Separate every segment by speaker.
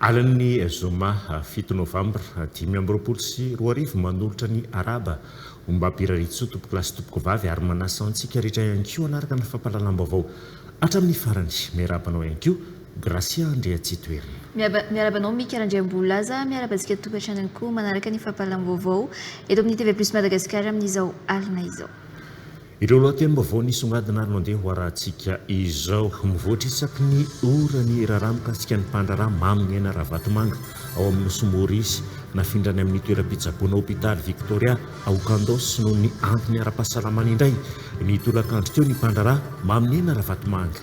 Speaker 1: Alin'ny zoma fito novambra dimy amby roapolo sy roa arivo, manolotra ny arahaba ho Mbapirarisoa, Tompokolahy sy Tompokovavy, ary manasa antsika rehetra ihany koa hanaraka ny fampahalalam-baovao Hatramin'ny farany, miarahaba anao ihany koa Gracia Andriatsitoerina. Miaraba anao Mika
Speaker 2: Randriambolaza, miaraba antsika tokantranony koa manaraka ny fampahalalam-baovao eto amin'ny TV Plus Madagasikara amin'izao alina izao. Ireo
Speaker 1: lohatenim-baovao nisongadina ary mandeha ho arahantsika izao. Mivoatra isaky ny ora ny raharaha mikasika ny mpandraharaha Mamy Niaina Ravatomanga ao amin'ny Nosy Maurice. Nafindrany amin'ny toeram-pitsaboana Hopitaly Victoria. Ao Kandos, noho ny antony ara-pahasalamana indray, ny tolakandro teo ny mpandraharaha, Maminena Ravatomanga.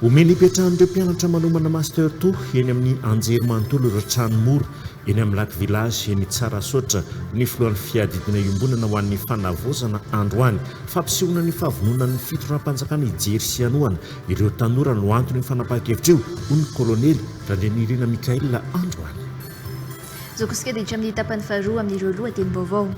Speaker 1: Omeny hipetrahan'ireo mpianatra manomana Master ii eny amin'ny anjerimanontolo ireo trano mora eny amin'ny Lac Village eny Tsarasaotra ny filohan'ny fiadidiana iombonana ho an'ny fanavaozana androany. Fampisehoana ny fahavononan'ny fitondram-panjakana hijery sy hanohana ireo tanora no antony io fanapahan-kevitra io, hoy ny kolonely Randrianirina Michaël androany.
Speaker 2: Zokiskedic amin'ny tapany faharoa amin'ireo lohatenim-baovao.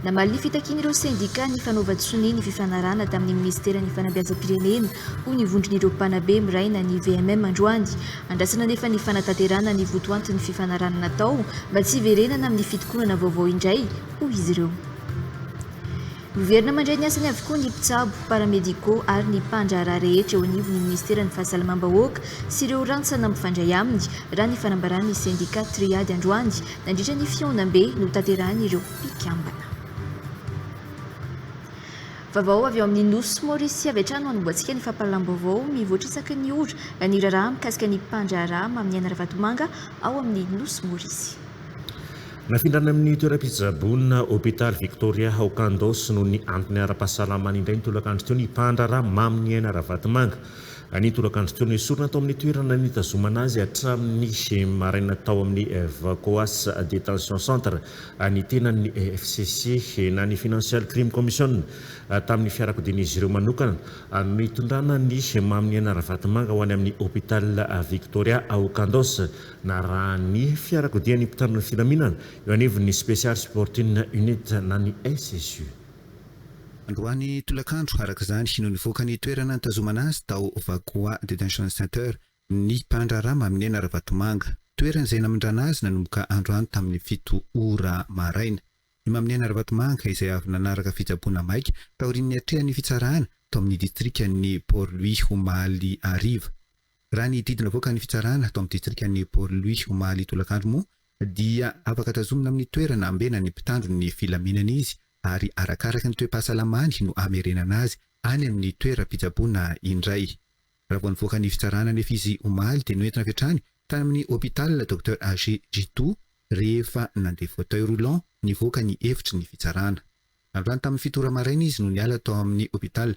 Speaker 2: Namaly ny fitakian'ireo sendikà ny fanaovan-tsonia ny fifanarahana tamin'ny minisiteran'ny Fanabeazam-pirenena, hoy ny vondron'ireo mpanabe miray na ny VMM androany. Andrasana anefa ny fanatanterahana ny votoantin'ny fifanarahana natao mba tsy hiverenana amin'ny fitokonana vaovao indray, hoy izy ireo. Miverina mandray ny asany avokoa ny mpitsabo, paramédicaux, ary ny mpandraharaha rehetra eo anivon'ny minisiteran'ny Fahasalamam-bahoaka sy ireo rantsana mifandray aminy, raha ny fanambaran'ny sendika Triade androany, nandritra ny fihaonambe notanterahin'ireo mpikambana. Vaovao avy ao amin'ny Nosy Maorisy avy hatrany no anombohantsika ny fampahalalam-baovao mivoatra isaky ny ora, na ny raharaha mikasika ny mpandraharaha Maminiaina Ravatomanga ao amin'ny Nosy Maorisy.
Speaker 1: Nafindrana amin'ny toeram-pitsaboana Hôpital Victoria ao Kandos noho ny antony ara-pahasalamany indray ny tolakandro teo ny mpandraharaha Maminiaina Ravatomanga. Ny tolakandro teo no esorina tao amin'ny toerana nitazomana azy hatramin'ny maraina tao amin'ny Vacoas Detention Centre ny tenan'ny fcc na ny Financial Crime Commission tamin'ny fiarakodian'izy ireo manokana no nitondrana an'i Maminiaina Ravatomanga ho any amin'ny Hôpital Victoria ao Kandos Narahan'ny fiarakodia ny mpitandro ny filaminana eo anivon'ny Special Supporting Unit na ny SSU.
Speaker 3: Androany tolakandro, araka izany, no nivoaka ny toerana nitazomana azy tao Vacoa Detention Center ny mpandraharaha Maminena Ravatomanga. Toerana izay namindrana azy nanomboka androany tamin'ny fito ora maraina. I Maminena Ravatomanga, izay avy nanaraka fitsaboana maika taorian'ny niatrehan'ny fitsarana tao amin'ny distrikan'i Port-Louis omaly hariva, Raha ny didy navoakan'ny fitsarana tao amin'ny distrikan'i Port-Louis omaly tolakandro moa dia afaka tazomina amin'ny toerana ambena ny mpitandro ny filaminana izy ary arakaraka ny toe-pahasalamany no hamerenana azy any amin'ny toeram-pitsaboana indray. Raha vao nivoaka ny fitsarana anefa izy omaly dia noentina avy hatrany tany amin'ny hôpital Docteur Age Jitu rehefa nandeha fauteuil roulant nivoaka ny efitry ny fitsarana. Androany tamin'ny fito ora maraina izy no niala tao amin'ny hôpital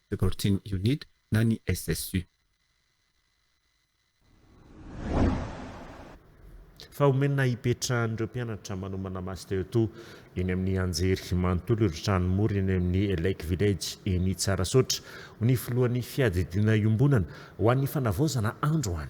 Speaker 3: Supporting Unit, na ny SSU.
Speaker 1: Fa omena hipetrahan'ireo mpianatra manomana Master ii eny amin'ny anjery manontolo ireo trano mora eny amin'ny Lake Village eny Tsarasaotra, ho ny filohan'ny fiadidiana iombonana ho an'ny fanavaozana androany.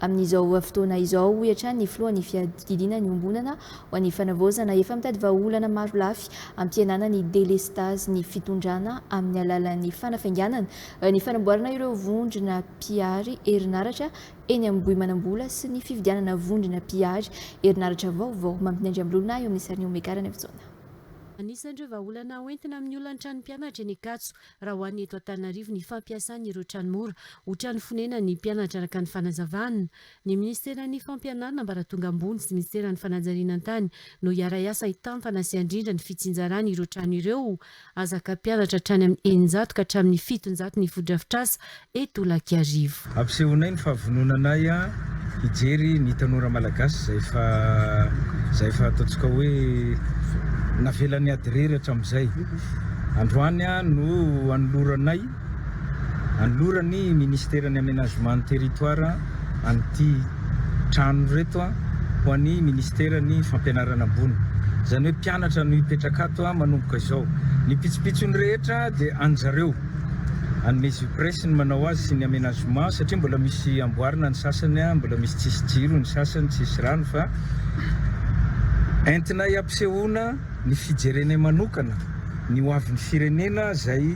Speaker 2: Amin'izao fotoana izao, hoy hatrany ny filohan'ny fiadidiana niombonana ho an'ny fanavaozana, efa mitady vahaolana maro lafy hampihenana ny delestazin'ny fitondrana amin'ny alalan'ny fanafainganana ny fanamboarana ireo vondrona mpihary herinaratra eny Ambohimanambola sy ny fividianana vondrona mpihary herinaratra vaovao. Mampy Andriambolona eo amin'ny sarin'i Omega Ranaivojaona. Anisan'ireo
Speaker 4: vahaolana hoentina amin'ny olan'ny tranom-pianatra eny Ankatso, Raha ho an'ny eto Antananarivo, ny fampiasana ireo trano mora ho trano fonenan'ny mpianatra araka ny fanazavan ny minisiteran'ny Fampianarana ambaratonga ambony sy ny minisiteran'ny Fanajarianan-tany no hiara-hiasa hitampana sy handrindra ny fitsinjarana ireo trano ireo. Azaka mpianatra hatrany amin'ny eninjato ka hatramin'ny fitonjato ny fotodrafitrasa eto Olakiarivo. Ampisehoanay ny
Speaker 5: fahavononanay hijery ny tanora malagasy izay efa izay efa ataontsika hoe navelan'ny ady irery hatramin'izay. Androany no anoloranay anoloran'ny Ministeran'ny Amenagemen'ny Territoire an'ity trano ireto ho an'ny Ministeran'ny Fampianarana Ambony. Izany hoe mpianatra no hipetraka ato manomboka izao. Ny pitsopitsony rehetra dia an'izareo. Hanome surprise ny manao azy sy ny amenagement satria mbola misy amboarina ny sasany a, mbola misy tsisy jiro ny sasany, tsisy rano fa entinay ampisehoana ny fijerenay manokana ny ho avin'ny firenena zay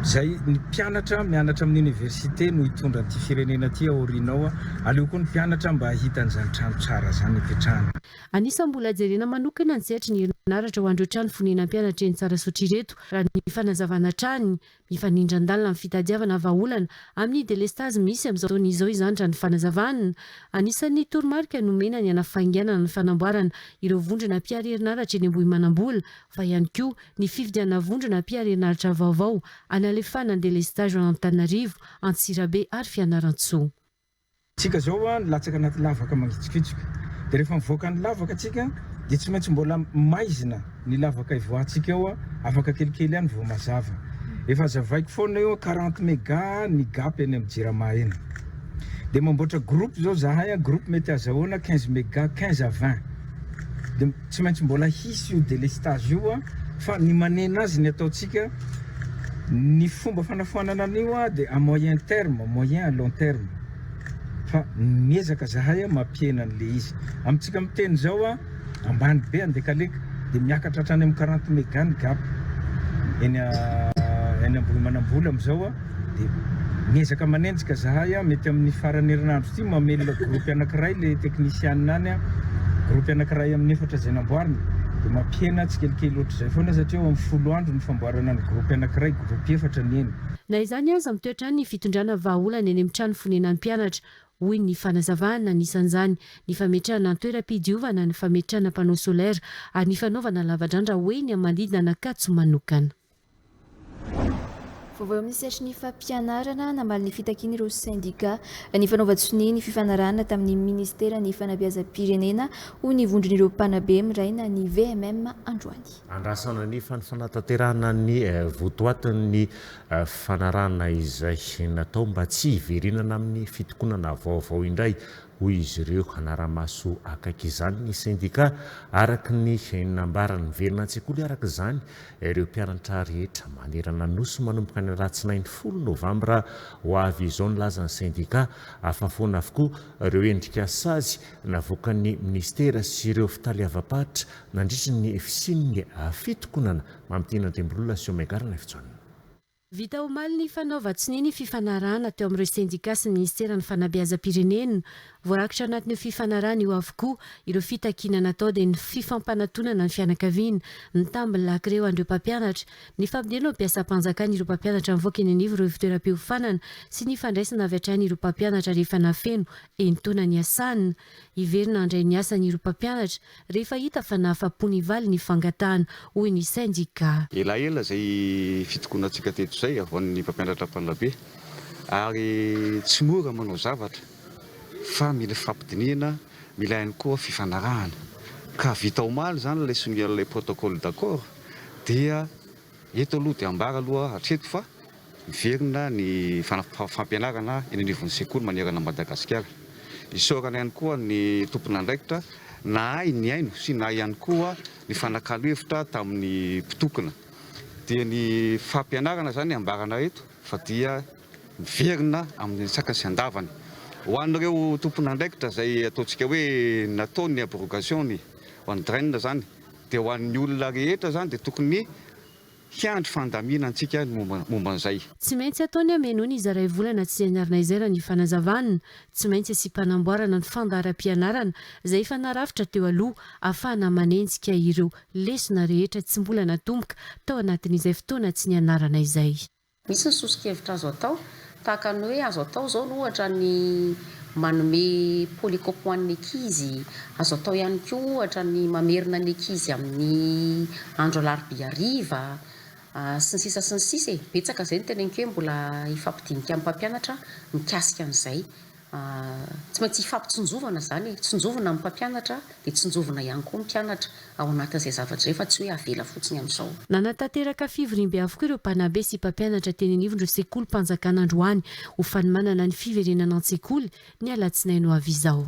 Speaker 5: zay ny mpianatra mianatra amin'ny université no hitondra an'ity firenena ty aoriana ao a, aleo koa ny mpianatra mba hahita an'izany trano tsara zany hipetrahany. Anisan'ny mbola
Speaker 4: jerena manokana ny sehatry ny herinaratra ho an'ireo trano fonenan'ny mpianatra eny Tsarasotra ireto, raha ny fanazavana hatrany. Mifanindran-dalina amin'ny fitadiavana vahaolana amin'ny delestazy misy amin'izao fotoana izao izany raha ny fanazavana. Anisan'ny toromarika nomena ny hanafainganana ny fanamboarana ireo vondrona mpihary herinaratra eny Ambohimanambola fa ihany koa ny fividianana vondrona mpihary herinaratra vaovao hanalefahana ny delestazy ao Antananarivo, Antsirabe ary Fianarantsoa. Tsika
Speaker 5: zao hoa nilatsaka anaty lavaka mangitsokitsoka de rehefa mivoaka ny lavaka tsika de tsy maintsy mbola maizina ny lavaka ivoahantsika eo hoa afaka kelikely any vao mazava efa azavaiko foana eo hoa quarante mega ny gap eny am jirama eny de mamboatra groupe zao zahay an groupe mety azahoana quinze mega quinze à vingt Dia tsy maintsy mbola hisy io délestage io an! Fa ny manena azy ny ataontsika, ny fomba fanafoanana an'io an dia à moyen terme, moyen à long terme. Fa miezaka zahay an mampihena an'ilay izy. Amintsika miteny izao an, ambany be Andekaleka, dia miakatra hatrany amin'ny quarante méga ny gap. Eny Ambohimanambola amin'izao an, dia miezaka manenjika zahay an, mety amin'ny faran'ny herinandro ity mamelona groupe anakiray le technician any an, groupe anakiray amin'ny efatra izay namboarina, dia mampihena tsikelikely ohatr'izay foana satria eo amin'ny folo andro ny famboarana ny groupe anakiray, groupe efatra ny eny. Na izany aza, mitoetra
Speaker 4: ny fitondrana vahaolana eny amin'ny trano fonenan'ny mpianatra, hoy ny fanazavana, anisan'izany ny fametrahana an-toeram-pidiovana, ny fametrahana panneau solaire ary ny fanaovana lavadrandra ho eny amin'ny manodidina an'Ankatso manokana.
Speaker 2: Vaovao amin'ny sehatry fampianarana, namaly ny fitakiany ireo sendika ny fanaovan-tsonia ny fifanarahana tamin'ny ministeran'ny fanabeazam-pirenena, hoy ny vondron'ireo mpanabe miraina ny VMM androany. Andrasana ny
Speaker 1: fanatanterahana ny votoatin'ny fifanarahana izay natao mba tsy hiverenana amin'ny fitokonana vaovao indray. hoy izy ireo. Hanara-maso akaiky izany ny sendikà, araka ny nambarany. Miverina an-tsekoly araka izany ireo mpianatra rehetra manerana ny Nosy manomboka ny alatsinainy folo novambra ho avy izao, nilaza ny sendikà. Afahafoana avokoa ireo endrika sazy navoakan'ny minisitera sy ireo fitaleavam-paritra nandritra ny fisian'ny fitokonana mamintiana an-drimbolola sy Omega Rnfjhn. Vita
Speaker 4: omaly ny fanaovan-tsonia ny fifanarahana teo amin'ireo sendikà sy ny Ministeran'ny Fanabeazam-pirenena. Voarakitra anatin'io fifanarahana io avokoa ireo fitakiana natao dia ny fifampanatonana ny fianakaviana, ny tambin'ny lakry eo an'ireo mpampianatra, ny fampidirana ho mpiasam-panjakana ireo mpampianatra mivoaka eny anivon'ireo ivontoeram-piofanana sy ny fandraisana avy hatrany ireo mpampianatra rehefa nafeno entaona niasana. Hiverina handray ny asany ireo mpampianatra. Rehefa hita fa nahafa-po ny valy ny fangatahana, hoy ny sendika. Elaela izay
Speaker 6: fitokonantsika teto izay avy ho an'ny mpampianatra mpanabe ary tsy mora manao zavatra fa mila fifampidinihana, mila ihany koa fifanarahana ka vita omaly izany ilay sonia ilay protocole d'accord dia Eto aloha dia ambara aloha hatreto fa miverina ny fampianarana eny anivon'ny sekoly manerana an'i Madagasikara. Isaorana ihany koa ny tompon'andraikitra nahay nihaino sy nahay ihany koa nifanakalo hevitra tamin'ny mpitokona. Dia ny fampianarana izany ambarana eto fa dia miverina amin'ny sakany sy andavany. Ho an'ireo tompon'andraikitra izay ataontsika hoe natao ny abrogation-ny, ho an'ny DREN izany, Dia ho an'ny olona rehetra izany dia tokony hiandry fandamina antsika ny momba an'izay. Tsy maintsy ataony hameno
Speaker 4: ny zaray volana tsy hianarana izay raha ny fanazavan'ny. Tsy maintsy asiam-panamboarana ny fandaharam-pianarana izay efa narafitra teo aloha afahana manenjika ireo lesona rehetra tsy mbola natomboka tao anatin'izay fotoana tsy nianarana izay. Misy ny soso-kevitra
Speaker 7: azo atao, tahaka ny hoe azo atao izao ny ohatra ny manome polycope ho an'ny ankizy, azo atao ihany koa ohatra ny mamerina ny ankizy amin'ny andro alarobia hariva, sy ny sisa sy ny sisa e! Betsaka izay no teneniko hoe mbola hifampidinika amin'ny mpampianatra mikasika an'izay. Tsy maintsy hifampitsinjovana izany e! Tsinjovina ny mpampianatra dia tsinjovina ihany koa ny mpianatra ao anatin'izay zavatra izay fa tsy hoe avela fotsiny amin'izao. Nanatanteraka
Speaker 4: fivoriambe avokoa ireo mpanabe sy mpampianatra teny anivon'ireo sekolim-panjakana androany ho fanomanana ny fiverenana an-tsekoly ny alatsinainy ho avy izao.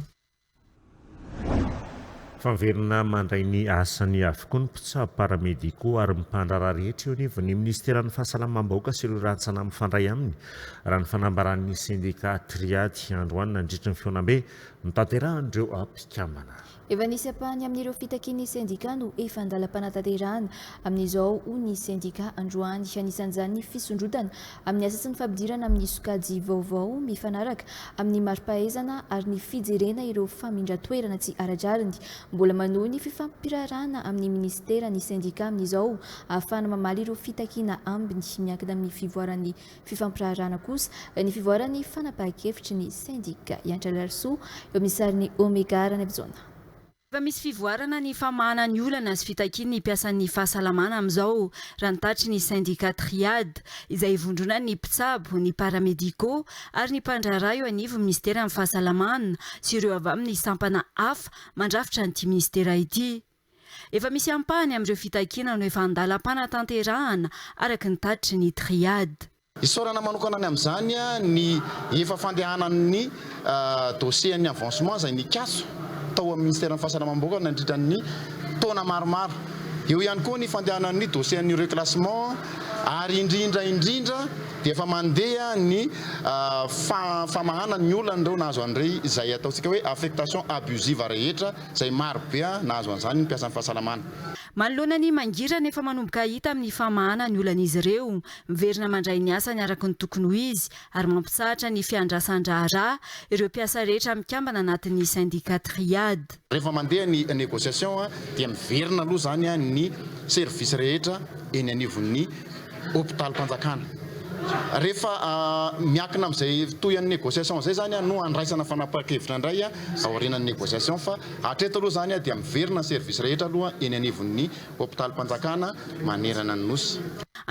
Speaker 1: Fa miverina mandray ny asany avokoa ny mpitsabo, paramédicaux ary mpandraharaha rehetra eo anivon'ny minisiteran'ny Fahasalamam-bahoaka sy ireo rantsana mifandray aminy, raha ny fanambaran'ny sendika Triady androany nandritry ny fihaonambe notanterahan'ireo mpikambana. Efa nisy ampahany
Speaker 2: amin'ireo fitakian'ny sendika no efa an-dalam-panatanterahana amin'izao, hoy ny sendika androany. Anisan'izany ny fisondrotana amin'ny asa sy ny fampidirana amin'ny sokajy vaovao mifanaraka amin'ny mari-pahaizana ary ny fijerena ireo famindran-toerana tsy ara-drariny. Mbola manohy ny fifampiraharahana amin'ny minisitera ny sendika amin'izao ahafahana mamaly ireo fitakiana ambiny. Miankina amin'ny fivoaran'ny fifampiraharahana kosa ny fivoaran'ny fanapahan-kevitry ny sendika. Iantra Larisoa eo amin'ny sarin'i Omega Ranaivojaona. Efa misy
Speaker 8: fivoarana ny famahana ny olana sy fitakian'ny mpiasan'ny fahasalamana amin'izao, raha ny tatitry ny sendika Triad, izay ivondronan'ny mpitsabo, ny paramédicaux ary ny mpandraharaha eo anivon'ny minisiteran'ny Fahasalamana sy ireo avy amin'ny sampana hafa mandrafitra an'ity minisitera ity. Efa misy ampahany amin'ireo fitakiana no efa andalam-panatanterahana, araka ny tatitry ny Triad. Isaorana manokana
Speaker 9: ny amin'izany ny efa fandehanan'ny dosiean'ny avancement izay nikatso tao amin'ny Minisiteran'ny Fahasalamam-bahoaka nandritra ny taona maromaro. Eo ihany koa ny fandehanan'ny dosiean'ny reclassement ary indrindra indrindra dia efa mandeha ny famahana ny olan'ireo nahazo an'irey izay ataontsika hoe affectation abusive rehetra izay marobe nahazo an'izany ny mpiasan'ny fahasalamana. Manoloana ny
Speaker 8: mangirana efa manomboka hita amin'ny famahana ny olan'izy ireo, Miverina mandray ny asany araka ny tokony ho izy ary mampitsahatra ny fiandrasan-draharaha ireo mpiasa rehetra mikambana anatin'ny sendika Triad. Rehefa mandeha ny
Speaker 9: négociation dia miverina aloha izany ny service rehetra eny anivon'ny hopitalim-panjakana. Rehefa miankina amin'izay toy an'ny négociation izay izany no handraisana fanapahan-kevitra indray aorianan'ny négociation fa hatreto aloha izany dia miverina ny service rehetra aloha eny anivon'ny hopitalim-panjakana manerana ny Nosy.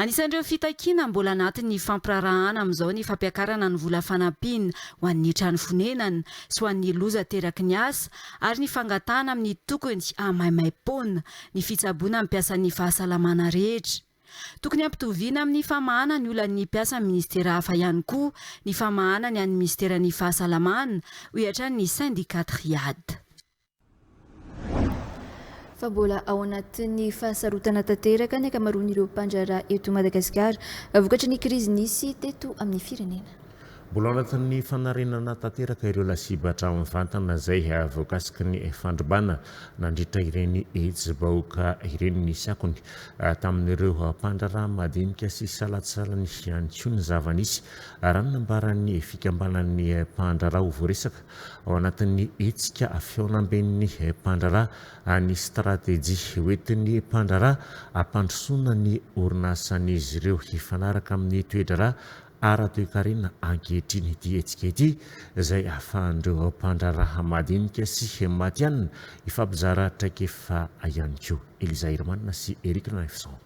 Speaker 9: Anisan'ireo
Speaker 8: fitakiana mbola anatin'ny hifampiraharahana amin'izao ny fampiakarana ny vola fanampiana ho an'ny trano fonenana sy ho an'ny loza ateraky ny asa ary ny fangatahana amin'ny tokony hahamaimai-poana ny fitsaboana ny mpiasan'ny fahasalamana rehetra. Tokony hampitoviana amin'ny famahana ny olan'ny mpiasan'ny minisitera hafa ihany koa ny famahana ny an'ny minisiteran'ny fahasalamana, hoy hatrany ny Syndicat Triade.
Speaker 2: fa mbola ao anatin'ny fahasarotana tanteraka ny ankamaroan'ireo mpandraharaha eto Madagasikara vokatry ny krizy nisy teto amin'ny firenena. Mbola ao anatin'ny
Speaker 1: fanarenana tanteraka ireo lasibatra mivantana izay voakasiky ny fandrobana nandritra ireny hetsi-bahoaka ireny nisy akony tamin'ireo mpandraharaha madinika sy salantsalany ihany koa ny zava-nisy, raha ny nambaran'ny fikambanan'ny mpandraharaha ho voaresaka. ao anatin'ny hetsika fihaonamben'ny mpandraharaha any stratejia hoentin'ny mpandraharaha hampandrosoana ny orinasan'izy ireo hifanaraka amin'ny toe-draharaha ara-toekarena ankehitriny ity hetsika ity izay ahafahan'ireo mpandraharaha madinika sy matihanina hifampizara traikefa ihany koa. Eliza Herimanana sy Eric Lefson.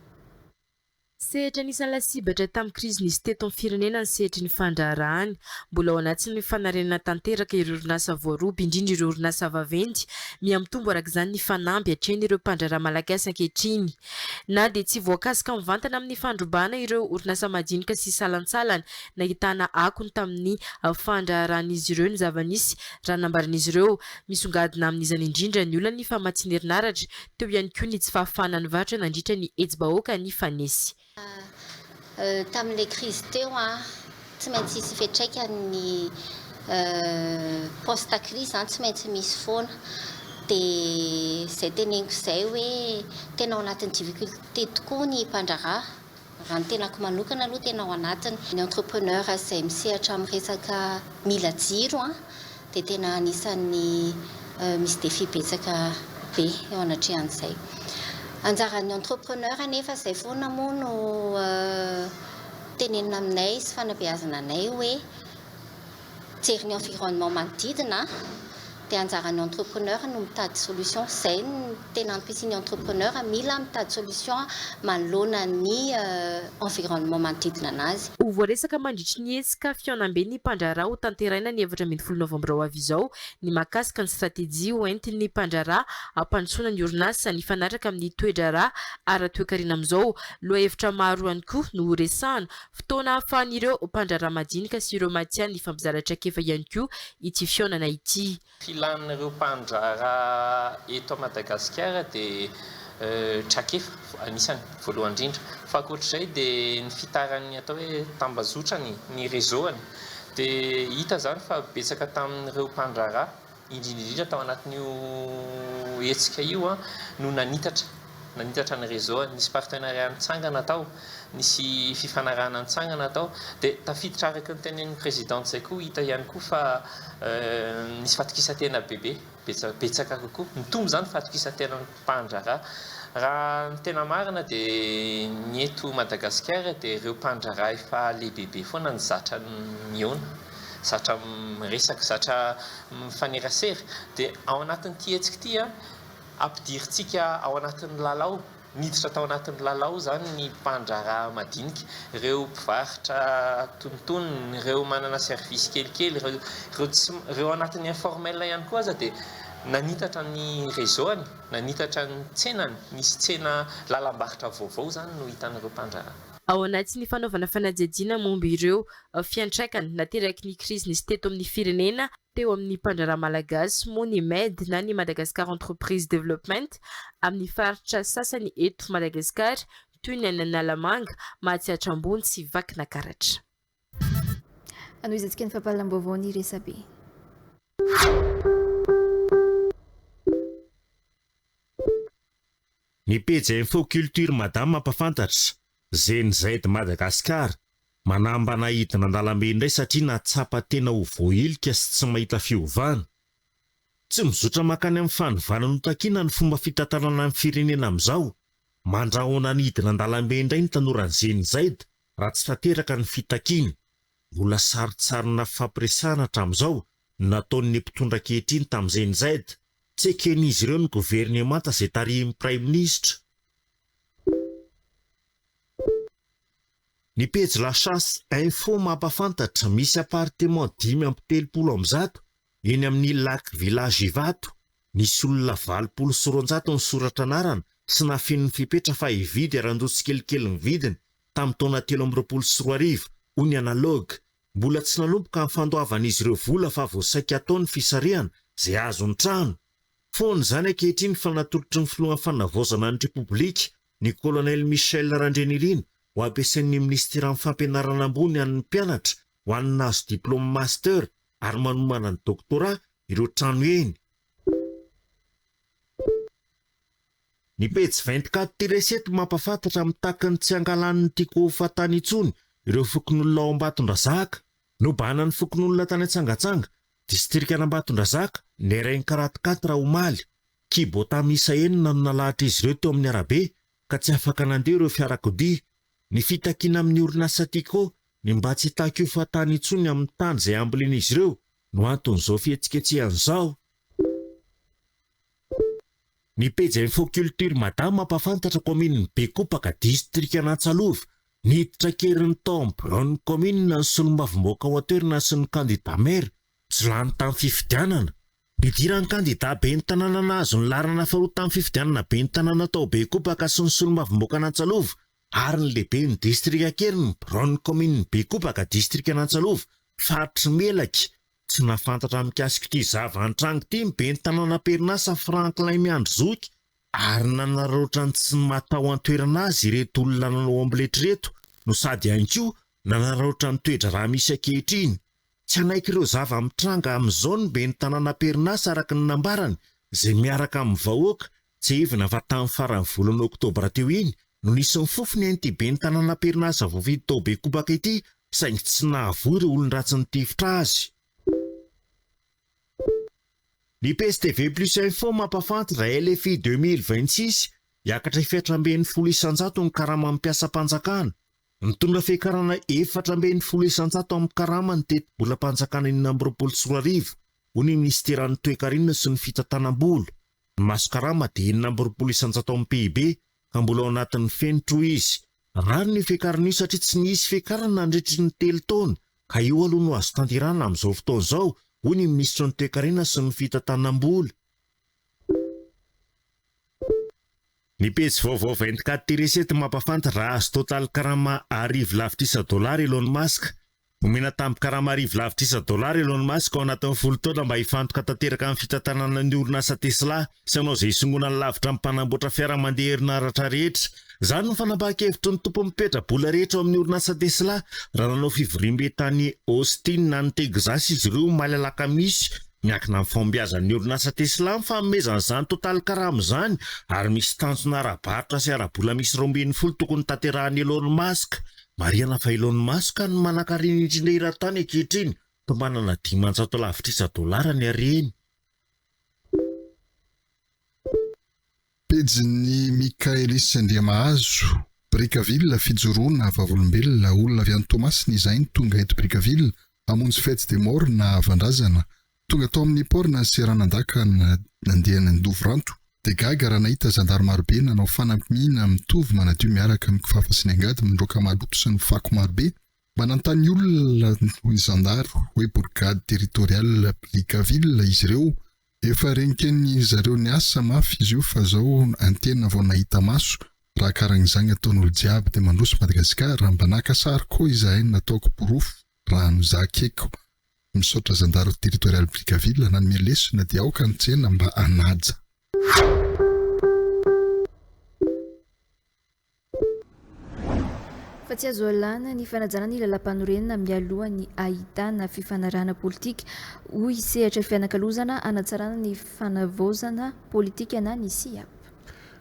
Speaker 10: Sehatra anisan'ny lasibatra tamin'ny krizy nisy teto amin'ny firenena ny sehatry ny fandraharahàny. Mbola ao anatin'ny fanarenana tanteraka ireo orinasa voaroba, indrindra ireo orinasa vaventy. Mihamitombo araka izany ny fanamby atrehin'ireo mpandraharaha malagasy ankehitriny. Na dia tsy voakasika mivantana amin'ny fandrobana ireo orinasa madinika sy salantsalany, nahitana akony tamin'ny fandraharàn'izy ireo ny zava-nisy, raha nambaran'izy ireo. Misongadina amin'izany indrindra ny olan'ny famatsiana herinaratra, Teo ihany koa ny tsy fahafahana nivarotra nandritra ny hetsi-bahoaka nifanesy.
Speaker 11: Tamin'ilay krizy teo, tsy maintsy hisy fiantraikany ny post-crise izany, tsy maintsy misy foana. Dia izay teneniko izay hoe tena ao anatin'ny difficulté tokoa ny mpandraharaha Raha ny tenako manokana aloha tena ao anatiny ny entrepreneur izay misehatra amin'ny resaka mila jiro dia tena anisan'ny misy défi betsaka be eo anatrehan'izay. Anjaran'ny entrepreneur anefa izay foana moa no tenenina aminay sy fanabeazana anay hoe, Mijery ny environnement manodidina dia anjaran'ny entrepreneur no mitady solution izay no tena ampisian'ny entrepreneur mila mitady solution manoloana ny environnement manodidina anazy. Ho voaresaka mandritry
Speaker 10: ny hetsika fihaonambe ny mpandraharaha ho tanteraina ny efatra ambin'ny folo novambra ho avy izao ny mahakasika ny stratejia ho entin'ny mpandraharaha hampandrosoana ny orinasa nifanaraka amin'ny toe-draharaha ara-toekarena amin'izao. Lohahevitra maro ihany koa no horesahana Fotoana ahafahan'ireo mpandraharaha madinika sy ireo matihanina hifampizara traikefa ihany koa ity fihaonana ity. Filan'ireo
Speaker 12: mpandraharaha eto Madagasikara dia traikefa anisany voalohany indrindra. Fa ankoatr'izay dia ny fitaran'ny atao hoe tambazotrany, ny réseau-ny. Dia hita izany fa betsaka tamin'ireo mpandraharaha indrindra indrindra tao anatin'io hetsika io no nanitatra nanitatra ny réseau, nisy partenariat nitsangana tao, nisy fifanarahana nitsangana tao, dia tafiditra araka ny tenenin'ny présidente izay koa hita ihany koa fa nisy fatokisan-tena bebe, betsaka kokoa, mitombo izany fatokisan-tena. mpandraharaha. Raha ny tena marina dia ny eto Madagasikara dia ireo mpandraharaha efa lehibebe foana no zatra mihaona, zatra miresaka, zatra mifanerasera. Dia ao anatin'ity hetsika ity, ampidirintsika ao anatin'ny lalao, miditra tao anatin'ny lalao izany ny mpandraharaha madinika, ireo mpivarotra antonontonony, ireo manana service kelikely, ireo tsy, ireo anatin'ny informel ihany koa aza dia. Nanitatra ny réseau-ny, nanitatra ny tsenany, nisy tsena lalam-barotra vaovao izany no hitan'ireo mpandraharaha. Ao anatin'ny
Speaker 10: fanaovana fanadihadiana momba ireo fiantraikany nateraky ny krizy nisy teto amin'ny firenena teo amin'ny mpandraharaha malagasy moa ny MEDD na ny Madagascar Entreprise Development amin'ny faritra sasany eto Madagasikara toy ny any Analamanga, Mahatsiatra Ambony sy Vakinakaratra.
Speaker 2: Hanohizantsika ny fampahalalam-baovao ny resabe.
Speaker 1: Ny pejy info culture madame mampafantatra, Gen Z Madagascar manambana hidina an-dalambe indray satria nahatsapa tena ho voahilika sy tsy mahita fiovana. Tsy mizotra mankany amin'ny fanovana notakiana ny fomba fitantanana ny firenena amin'izao. Mandrahona ny hidina an-dalambe indray ny tanoran'ny Gen Z Raha tsy tanteraka ny fitakiana, mbola sarintsarina fifampiresahana hatramin'izao no nataon'ny mpitondra ankehitriny tamin'ny GNZ. Tsy eken'izy ireo ny governemanta izay tarihin'ny praiminisitra. Ny pejy La Chasse Info mampahafantatra, misy apartements dimy amby telopolo amby zato eny amin'ny Lac Village Ivato, nisy olona valopolo sy roanjato nisoratra anarana sy nafinin'ny fepetra fa hividy haran-doha tsikelikely ny vidiny, tamin'ny taona telo amby roapolo sy roa arivo, hoy ny Analogue. Mbola tsy nanomboka ny fandoavan'izy ireo vola fa vao saika atao ny fisarihana izay hahazo ny trano. Foana izany ankehitriny fa natolotry ny filohan'ny Fanavaozana ny Repoblika, ny Kolonely Michel Randrianirina, ho ampiasain'ny Minisiteran'ny Fampianarana ambony an'ny mpianatra ho an'ny nahazo diplaoma Master ary manomana ny Doctorat ireo trano eny. Ny pejy vingt quatre ty resety mampafantatra mitaky ny tsy angalan'ny Tiko ho fahatany intsony ireo fokonolona ao Ambatondrazaka. Nobahanan'ny fokonolona tany Antsangatsanga, distrikan'Ambatondrazaka, ny Reng quatre quatre omaly. Kibotà miisa enina no nalahatr'izy ireo teo amin'ny arabe ka tsy afaka nandeha ireo fiarakodia. Ny fitakiana amin'ny orinasa Tiko ny mba tsy hitaky ho fahatany intsony amin'ny tany izay hambolen'izy ireo no anton'izao fihetsiketsehana izao. Ny pejy Info Culture Mada mampahafantatra kaominin'i Bekopaka, distrikan'Antsalova, ny hiditra an-keriny tao amin'ny biraon'ny kaominina ny solombavambahoaka ao an-toerana sy ny kandidà maire tsy lany tamin'ny fifidianana. Nidiran'ny kandidà ben'ny tanàna nahazo ny laharana faharoa tamin'ny fifidianana ben'ny tanàna tao Bekopaka sy ny solombavambahoakan'Antsalova ary ny lehiben'ny distrika an-keriny ny biraon'ny kaominin'i Bekopaka, distrikan'Antsalova, faritry Melaky, Tsy nahafantatra mikasika ity zava-nitranga ity ny ben'ny tanàna am-perinasa Franklin Miandry Zoky ary nanararaotra ny tsy maha tao an-toerana azy ireto olona nanao omelette ireto no sady ihany koa nanararaotra ny toe-draharaha misy ankehitriny. Tsy hanaiky ireo zava-mitranga amin'izao ny ben'ny tanàna am-perinasa araka ny nambarany izay miaraka amin'ny vahoaka Tsiahivina fa tamin'ny faran'ny volana oktobra teo iny no nisy ny fofona an'ity ben'ny tanàna am-perinasa voafidy tao Bekobaka ity saingy tsy nahavoa ireo olon-dratsy nitifitra azy. Ny PSTV Plus Info mampahafanty raha LFI deux mille vingt six, hiakatra efatra ambin'ny folo isan-jato ny karaman'ny mpiasam-panjakana. Nitondra fiakarana efatra ambin'ny folo isan-jato amin'ny karama ny tetibolam-panjakana enina amby roapolo sy roa arivo, hoy ny minisiteran'ny Toekarena sy ny fitantanam-bola. Ny maso karama dia enina amby roapolo isan-jato amin'ny PIB ka mbola ao anatin'ny fenitra, hoy izy. Rariny io fiakarana io satria tsy nisy fiakarana nandritry ny telo taona ka io aloha no azo tanterahana amin'izao fotoana izao, hoy ny minisitry ny Toekarena sy ny fitantanam-bola. Ny pejy vaovao vingt-quatre tiré sept mampahafantatra raha azo Total karama arivo lavitrisa dolara Elon Musk, Omena tambin-karama arivo lavitrisa dolara Elon Musk ao anatin'ny folo taona mba hifantoka tanteraka amin'ny fitantanana ny orinasa Tesla sy hanao izay hisongonany lavitra amin'ny mpanamboatra fiara mandeha herinaratra rehetra. Izany no fanapahan-kevitry ny tompon'ny petra-bola rehetra ao amin'ny orinasa Tesla raha nanao fivoriambe tany Austin any Texas izy ireo omaly alakamisy. Miankina amin'ny fahombiazan'ny orinasa Tesla ny fanomezana izany totalin-karama izany ary misy tanjona ara-barotra sy ara-bola miisa roa ambin'ny folo tokony ho tanterahin'i Elon Musk. Marihana fa ilaon'ny maso ka ny manankarena indrindra eran-tany ankehitriny, tombanana dimanjato lavitrisa dolara ny hareny.
Speaker 13: Pejin'i Michaelis Andriamahazo. Brickaville, fijoroana, vavolombelona, olona avy any Toamasina izahay ny tonga eto Brickaville hamonjy fête des morts na havan-drazana. Tonga tao amin'ny port na seranan-dahy ka nandeha nandovy ranto. Dia gaga raha nahita zandary marobe nanao fanamiana mitovy manadio miaraka amin'ny kifafa sy ny angady mandroaka maloto sy ny fako marobe. Mba nanontany olona hoy ny zandary hoe Bourgade Territoriale Brickaville izy ireo. Efa renken'ny zareo niasa mafy izy io fa zao antena vao nahita maso. Raha karan'izagny ataon'olo jiaby dia mandroso Madagasikara. Mba naka sary koa izahay nataoko porofo raha no zakeko. Misaotra zandaro territorial Brickaville nanome lesona dia aoka ny tsena mba hanaja.
Speaker 2: fa tsy azo alana ny fanajana ny lalampanorenina mialoha ny ahitana fifanarahana politika, hoy sehatra fianakalozana hanatsarana ny fanavaozana politika na ny CIAP.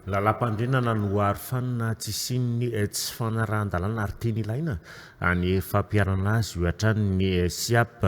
Speaker 2: Lalampandrinana
Speaker 1: no aro fanina tsy hisian'ny tsy fanarahan-dalàna ary teny ilaina ny fampiharana azy hoy hatrany ny Siap.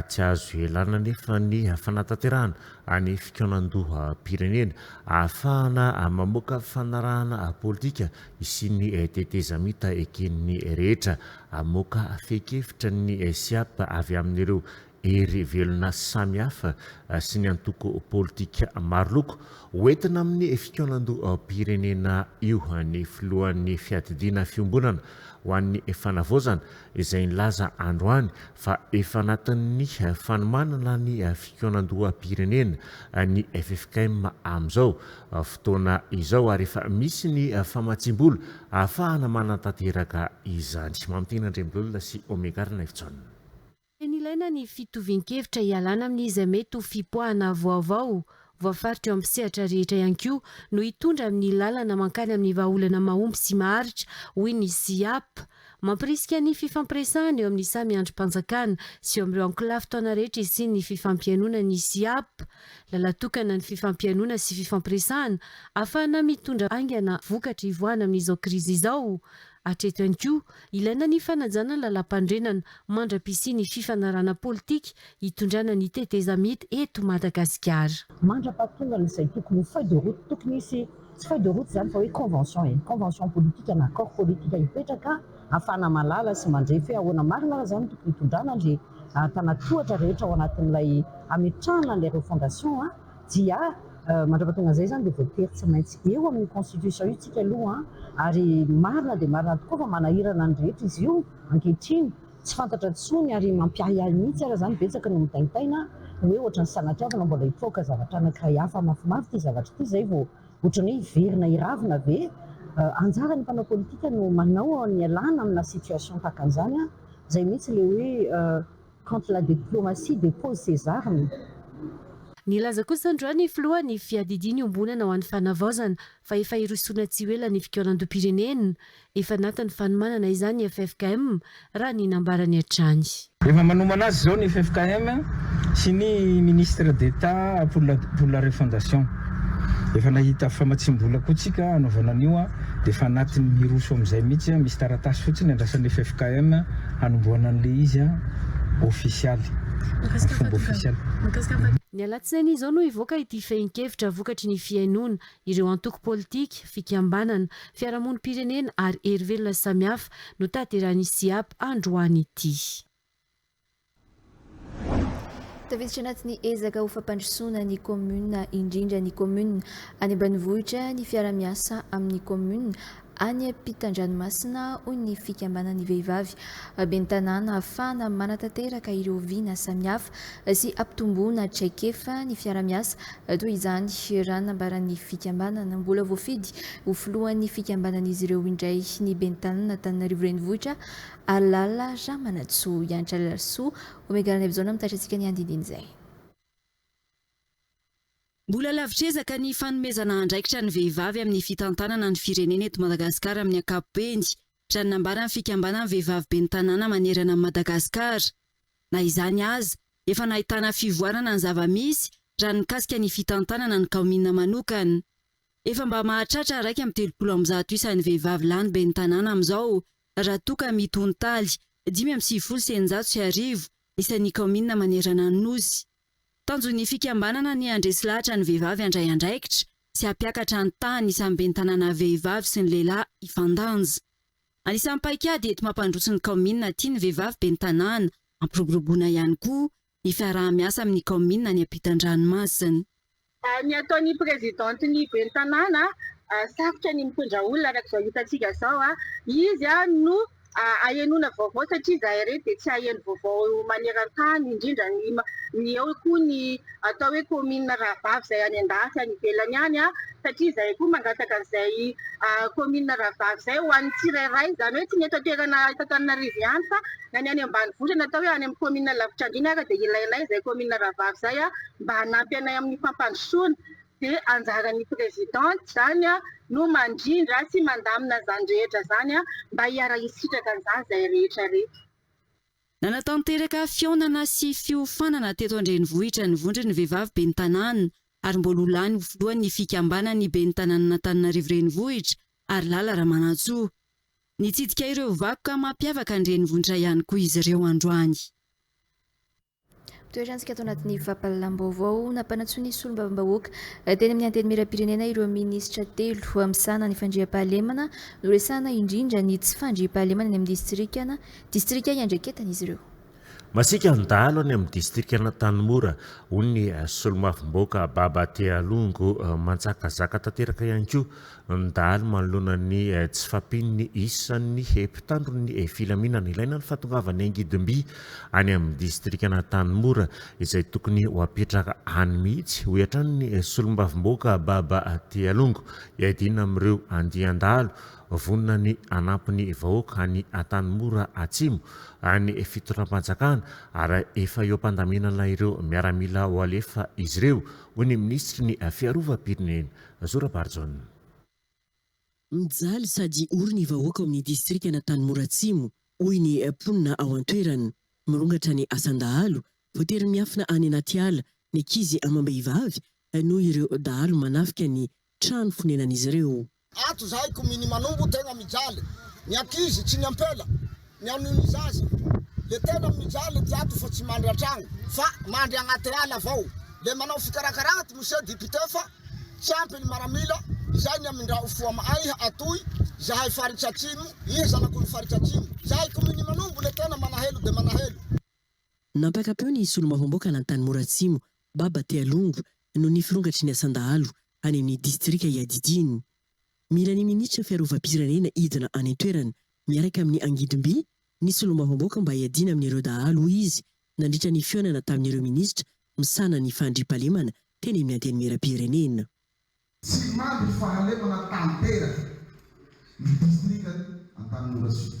Speaker 1: Tsy azo ialana anefa ny fanatanterahana ny fikaonandoham-pirenena ahafahana mamoaka fanarahana politika hisian'ny tetezamita eken'ny rehetra. Hamoaka fehin-kevitra ny Siap avy amin'ireo hery velona samihafa sy ny antoko politika maroloko ho entina amin'ny fikaonandoham-pirenena io ny filohan'ny fiadidiana fiombonana ho an'ny fanavaozana izay nilaza androany fa efa anatin'ny fanomanana ny fikaonandoham-pirenena ny ffkm amin'izao fotoana izao ary efa misy ny famatsiam-bola ahafahana manatanteraka izany. Mamitiana Andriambololona sy Omega Arina Efijaona. Tena ilaina
Speaker 4: ny fitovian-kevitra hialana amin'ny izay mety ho fipoahana vaovao, voafaritra eo amin'ny sehatra rehetra ihany koa, no hitondra amin'ny lalana mankany amin'ny vahaolana mahomby sy maharitra, hoy ny Siap. Mampirisika ny fifampiresahana eo amin'ny samy andrim-panjakana sy eo amin'ireo ankolafy taona rehetra hisian'ny fifampihainoana ny Siap. Lala tokana ny fifampihainoana sy fifampiresahana ahafahana mitondra haingana vokatra ivoahana amin'izao krizy izao, Hatreto ihany koa, ilaina ny fanajana ny lalampanorenana mandra-pisian'ny fifanarahana politika hitondrana ny tetezamita eto Madagasikara. Mandra-pahatongana
Speaker 14: izay tokony ho feuille de route, tokony hisy tsy feuille de route izany fa hoe convention e, convention politika na accord politika hipetraka ahafahana mahalala sy mandrefy hoe ahoana marina ary izany tokony hitondrana ilay tanà tohatra rehetra ao anatin'ilay hametrahana an'ilay refondation a. Dia mandrapa tonga izay izany dia voatery tsy maintsy eo amin'ny constitution io tsika aloha an! Ary marina dia marina tokoa fa manahirana ny rehetra izy io ankehitriny, tsy fantatra intsony ary mampiahiahy mihitsy ary izany, betsaka no mitaintaina hoe ohatran'ny sanatriavina mbola hipoaka zavatra anankiray hafa mafimafy ity zavatra ity izay vao ohatran'ny hoe hiverina hiravina ve? Anjaran'ny mpanao politika no manao ny ialana amina situation tahaka an'izany an! Izay mihitsy ilay hoe. Quand la diplomatie dépose ses armes.
Speaker 4: Nilaza kosa androany ny filoha ny fiadidiany iombonana ho an'ny fanavaozana fa efa hirosoana tsy ho ela ny fikaonandoham-pirenena. Efa anatin'ny fanomanana izany ny ffkm, raha ny nambarany hatrany. Efa manomana
Speaker 5: azy izao ny ffkm sy ny ministre d'Etat pour la pour la refondation. Efa nahita famatsiam-bola koa tsika hanaovana an'io dia efa anatin'ny hiroso amin'izay mihitsy, misy taratasy fotsiny andrasan'ny ffkm. Hanombohana an'ilay izy an, ofisialy, amin'ny fomba ofisialy. Ny
Speaker 4: alatsinainy izao no hivoaka ity fehin-kevitra vokatry ny fihainoana ireo antoko politika, fikambanana, fiarahamonim-pirenena ary herivelona samihafa notanterahin'ny Siap androany ity.
Speaker 2: Tafiditra anaty ny ezaka ho fampandrosoana ny kaominina indrindra ny kaominina any ambanivohitra ny fiaramiasa amin'ny kaominina any am-pitandranomasina hoy ny fikambanan'ny vehivavy ben'ny tanàna hafahana manatanteraka ireo vina samihafa sy ampitomboana traikefa ny fiaramiasa toy izany raha nambaran'ny fikambanana mbola voafidy ho filohan'ny fikambanan'izy ireo indray ny ben'ny tanàna Antananarivo Renivohitra Alala Ra Manantsoa, Ianitra Alalasoa, Omega Ranaivo Izao no mitaitra antsika ny andindin'izay.
Speaker 8: Mbola lavitr'ezaka ny fanomezana andraikitra ny vehivavy amin'ny fitantanana ny firenena eto Madagasikara amin'ny ankapobeny, raha ny nambaran'ny fikambanan'ny vehivavy ben'ny tanàna manerana an'i Madagasikara. Na izany aza, efa nahitana fivoarana ny zava-misy raha ny mikasika ny fitantanana ny kaominina manokana. Efa mba mahatratra iraika amby telopolo amby zato isa ny vehivavy lany ben'ny tanàna amin'izao raha toa ka mety ho ny taly dimy amby sivifolo sy eninjato sy arivo isan'ny kaominina manerana ny Nosy. Tanjon'ny fikambanana ny handresy lahatra ny vehivavy handray andraikitra sy hampiakatra ny tahan'ny isan'ny ben'ny tanàna vehivavy sy ny lehilahy hifandanja. Anisan'ny paikady ety mampandroso ny kaominina aty ny vehivavy ben'ny tanàna hampiroboroboana ihany koa ny fiaraha-miasa amin'ny kaominina any am-pitan-dranomasina. Ny
Speaker 15: ataon'ny prezidantin'ny ben'ny tanàna, sarotra ny mitondra olona araka izao hitantsika izao. Izy no ahenoana vaovao satria izahay ireto dia tsy haheno vaovao maneran-tany, indrindra ny eo koa ny atao hoe kaominina rahavavy izay any an-dafy any ivelany any. satria izahay koa mangataka izay kaominina rahavavy izay ho an'ny tsirairay, izany hoe tsy ny eto an-toerana eto Antananarivo ihany fa na ny any ambanivohitra na atao hoe any amin'ny kaominina lavitra andriny ary dia ilainay izay kaominina rahavavy izay mba hanampy anay amin'ny fampandrosoana dia anjaran'ny presidente izany no mandrindra sy mandamina izany rehetra izany mba hiara-hisitraka an'izany izay rehetra reto. Nanatanteraka
Speaker 8: fihaonana sy fiofanana teto an-drenivohitra ny vondron'ny vehivavy ben'ny tanàna ary mbola ho lany ho filohan' ny fikambanan' ny Ben'ny Tanànan' Antananarivo Renivohitra, Harilala Ramanantsoa. Nitsidika ireo vakoka mampiavaka ny renivohitra ihany koa izy ireo androany.
Speaker 2: Toerantsika ato anatin'ny fampahalalam-baovao, nampanantsoa ny solombavambahoaka teny amin'ny Antenimierampirenena ireo minisitra telo misahana ny fandriampahalemana. Noresahana indrindra ny tsy fandriampahalemana eny amin'ny distrikan distrika iandraiketan'izy ireo. Masiaka ny
Speaker 1: dahalo any amin'ny distrikan'Antanimora, hoy ny Solomasom-bahoaka Baba Tealongo. Manjakazaka tanteraka ihany koa ny dahalo manoloana ny tsy fahampian'ny isan'ny mpitandron'ny filaminana. Ilaina ny fahatongavan'ny angidimby any amin'ny distrikan'Antanimora izay tokony ho apetraka any mihitsy, hoy hatrany ny Solomasom-bahoaka Baba Tealongo. Hiadiana amin'ireo andian-dahalo Vonona ny hanampy ny vahoaka any Antanimora Atsimo any fitondram-panjakana ary efa eo am-pandaminana ireo miaramila ho alefa izy ireo, hoy ny minisitry ny Fiarovam-pirenena, Zora Barijaona. Mijaly
Speaker 16: sady ory ny vahoaka ao amin'ny distrikan'Antanimora Atsimo, hoy ny mponina ao an-toerana. Mirongatra ny asan-dahalo, voatery miafina any anaty ala ny ankizy amam-behivavy noho ireo dahalo manafika ny trano fonenan'izy ireo. Ato izahay koa
Speaker 17: mini manombo tegna mijaly ny ankizy tsy ny ampela ny anio ny zaza le tena mijaly ty ato fa tsy mandry antragno fa mandry agnaty ala avao le manao fikarakara ato monsieur député fa tsy ampy ny maramila izay ny amindrao fo am aiha atoy zahay faritsy atsimo iha zanak'olo faritsy atsimo zahay koa mini manombo le tena manahelo de manahelo.
Speaker 16: Nampakapeo
Speaker 17: ny
Speaker 16: solombavam-boaka an'Antanimora Atsimo,
Speaker 17: Baba
Speaker 16: Tealongo, noho ny firongatry ny asan-dahalo, any amin'ny distrika iadidiany. Mila ny minisitra fiarovam-pirenena hidina any an-toerana miaraka amin'ny angidimby ny solombavambaoka mba hiadiana amin'ireo dahalo, hoy izy nandritra ny fihaonana tamin'ireo minisitra misahana ny fandriampahalemana teny amin'ny Antenimierampirenena. Tsy
Speaker 18: mandry fahalemana tanteraka ny distrikan'i Antanimora Sud.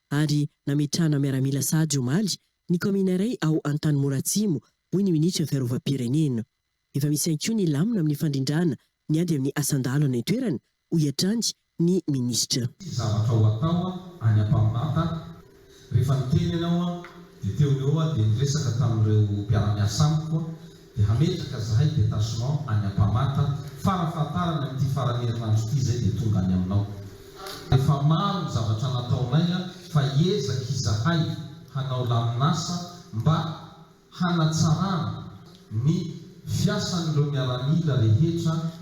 Speaker 16: ary nametrahana miaramila sahady omaly ny kaomina iray ao Antanimora Atsimo, hoy ny minisitry ny Fiarovam-pirenena. Efa misy ihany koa ny lamina amin'ny fandrindràna ny ady amin'ny asan-dahalo any an-toerana, hoy hatrany ny minisitra. Tsy zavatra ho atao
Speaker 19: any Ampamonata aho. Rehefa niteny ianao dia teo no eo aho dia niresaka tamin'ireo mpiara-miasa amiko. dia hametraka zahay detachement any Ampamata fara fahatarany amin'ity faran'ny herinandro ity izay dia tonga any aminao. Efa maro ny zavatra nataonay fa hiezaka izahay hanao lamin'asa mba hanatsarana ny fiasan'ireo miaramila rehetra,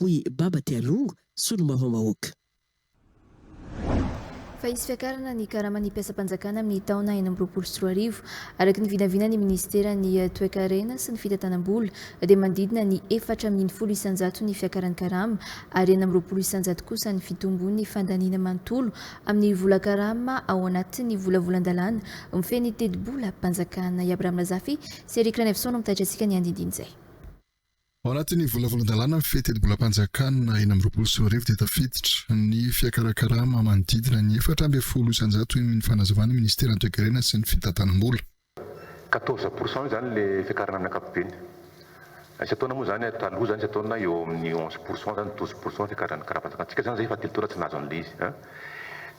Speaker 16: hoy Baba Tialongo, solombavambahoaka.
Speaker 2: Fa hisy fiakarana ny karaman'ny mpiasam-panjakana amin'ny taona enina amby roapolo sy roa arivo. Araka ny vinavinan'ny minisiteran'ny Toekarena sy ny fitantanam-bola dia manodidina ny efatra ambin'ny folo isanjato ny fiakaran'ny karama ary enina amby roapolo isanjato kosa ny fitombon'ny fandaniana manontolo amin'ny vola karama ao anatin'ny volavolan-dalàna mifehy ny tetibolam-panjakana. I Abraham Razafy sy Eric Ranaivoson no mitaitra antsika ny andindin'izay. Ao
Speaker 13: anatin'ny volavolan-dalàna ny fiheten-bolam-panjakana enina amby roapolo sy roa arivo dia tafiditra ny fiakarakarama manodidina ny efatra ambin'ny folo isanjato hoy ny fanazavan'ny minisiteran'ny Toekarena sy ny fitantanam-bola. Quatorze
Speaker 20: pour cent izany ilay fiakarana amin'ny ankapobeny. Isan-taona moa izany, taloha izany isan-taona eo amin'ny onze pour cent izany, douze pour cent ny fiakaran'ny karapanjakantsika. Izany izay efa telo taona tsy nahazo an'ilay izy.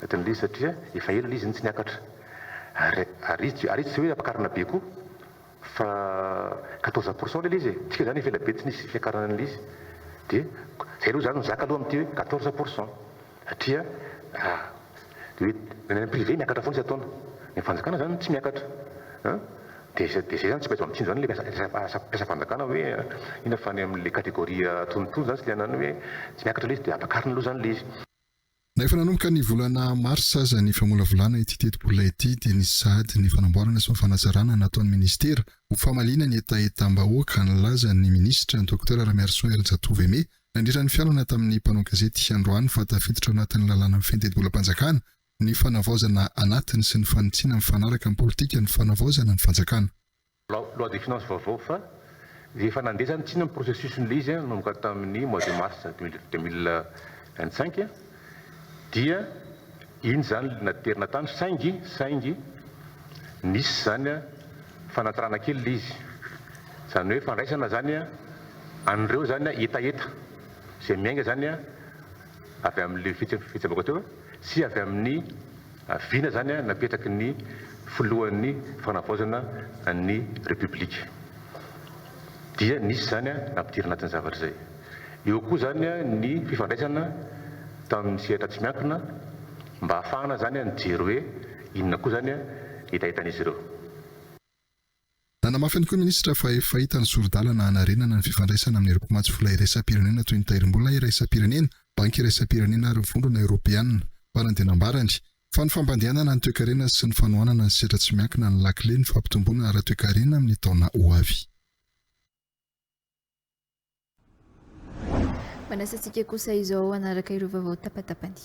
Speaker 20: Ohatran'ilay izy satria efa ela ilay izy no tsy niakatra. Ary ary izy ary izy tsy hoe ampakarina be koa fa quatorze pour cent ilay izy e, tsika izany efa ela be tsy nisy fiakarana an'ilay izy dia izay aloha izany no zaka aloha amin'ity hoe quatorze pour cent satria raha dia hoe ny any privé miakatra foana isan-taona, ny an'ny fanjakana izany tsy miakatra an! dia izay dia izay izany tsy maintsy mampitsinjo izany ilay mpiasa mpiasam-panjakana hoe inona fa any amin'ilay catégorie antonontonony izany sy ilay ananany hoe tsy miakatra ilay izy dia ampakarina aloha izany ilay izy. Na efa nanomboka
Speaker 13: ny volana marsa aza ny famolavolana ity tetibola ity dia nisy sahady ny fanamboarana sy ny fanazarana nataon'ny minisitera ho famaliana ny hetahetam-bahoaka nilaza ny minisitra Docteur Ramiarisoa Herijatovo Aimé nandritra ny fihaonana tamin'ny mpanao gazety androany fa tafiditra anatin'ny lalàna mifehy ny tetibolam-panjakana ny fanavaozana anatiny sy ny fanitsiana mifanaraka amin'ny politikan'ny fanavaozana ny fanjakana. loi de
Speaker 20: finances vaovao fa dia efa nandeha izany tsinona ny processus n'ilay izy nanomboka tamin'ny mois de mars deux mille vingt cinq dia iny izany no naterina tany saingy saingy nisy izany fanatrana kely ilay izy izany hoe fandraisana izany an'ireo izany hetaheta izay miainga izany avy amin'ilay fihetseham-bahoaka teo sy avy amin'ny Vina izany napetraky ny filohan'ny fanavaozana ny Repoblika. Dia nisy izany nampidirina anatin'ny zavatra izay. Eo koa izany ny fifandraisana tamin'ny sehatra tsy miankina mba hahafahana izany mijery hoe inona koa izany ny hetahetan'izy ireo.
Speaker 13: Nanamafy ihany koa ny minisitra fa efa hita ny sori-dalana hanarenana ny fifandraisana amin'ireo mpamatsy vola iraisam-pirenena toy ny tairim-bola iraisam-pirenena, banky iraisam-pirenena ary ny Vondrona Eoropeana. Farany dia nambarany, fa ny fampandehanana ny toekarena sy ny fanohanana ny sehatra tsy miankina no lakile ny fampitomboana ara-toekarena amin'ny taona ho avy.
Speaker 2: Manasa antsika kosa izao hanaraka ireo vaovao tapatapany.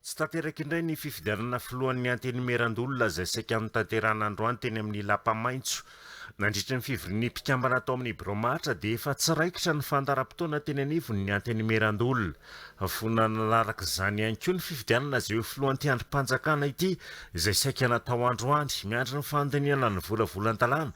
Speaker 2: Tsy
Speaker 1: tanteraka indray ny fifidianana filohan'ny Antenimierandoholona izay saika notanterahana androany teny amin'ny lapa maitso. Nandritra ny fivorian'ny mpikambana tao amin'ny birao Mahatra dia efa tsy raikitra ny fandaharam-potoana teny anivon'ny Antenimierandoholona. Vonona nanaraka izany ihany koa ny fifidianana izay ho filohan'ity andrim-panjakana ity izay saika natao androany. Miandry ny fandinihana ny volavolan-dalàna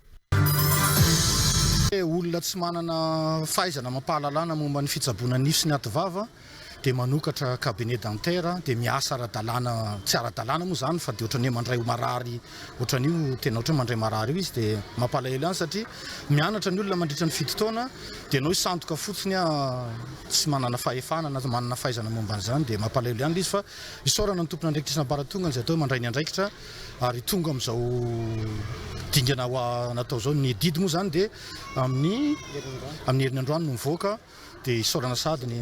Speaker 21: Olona tsy manana fahaizana amam-pahalalana momba ny fitsaboana nify sy ny ativava dia manokatra cabinet dentaire dia miasa ara-dalàna, tsy ara-dalàna moa izany fa dia ohatran'ny hoe mandray ho marary ohatran'io, tena ohatran'ny hoe mandray marary io izy dia mampalahelo ihany satria mianatra ny olona mandritra ny fito taona dia ianao hisandoka fotsiny a tsy manana fahefana na manana fahaizana momba an'izany dia mampalahelo ihany ilay izy fa isaorana ny tompon'andraikitry ny ambaratongany izay atao hoe mandray ny andraikitra ary tonga amin'izao dingana ho natao izao, ny didy moa izany dia amin'ny amin'ny herin'ny androany no mivoaka dia isaorana sahady ny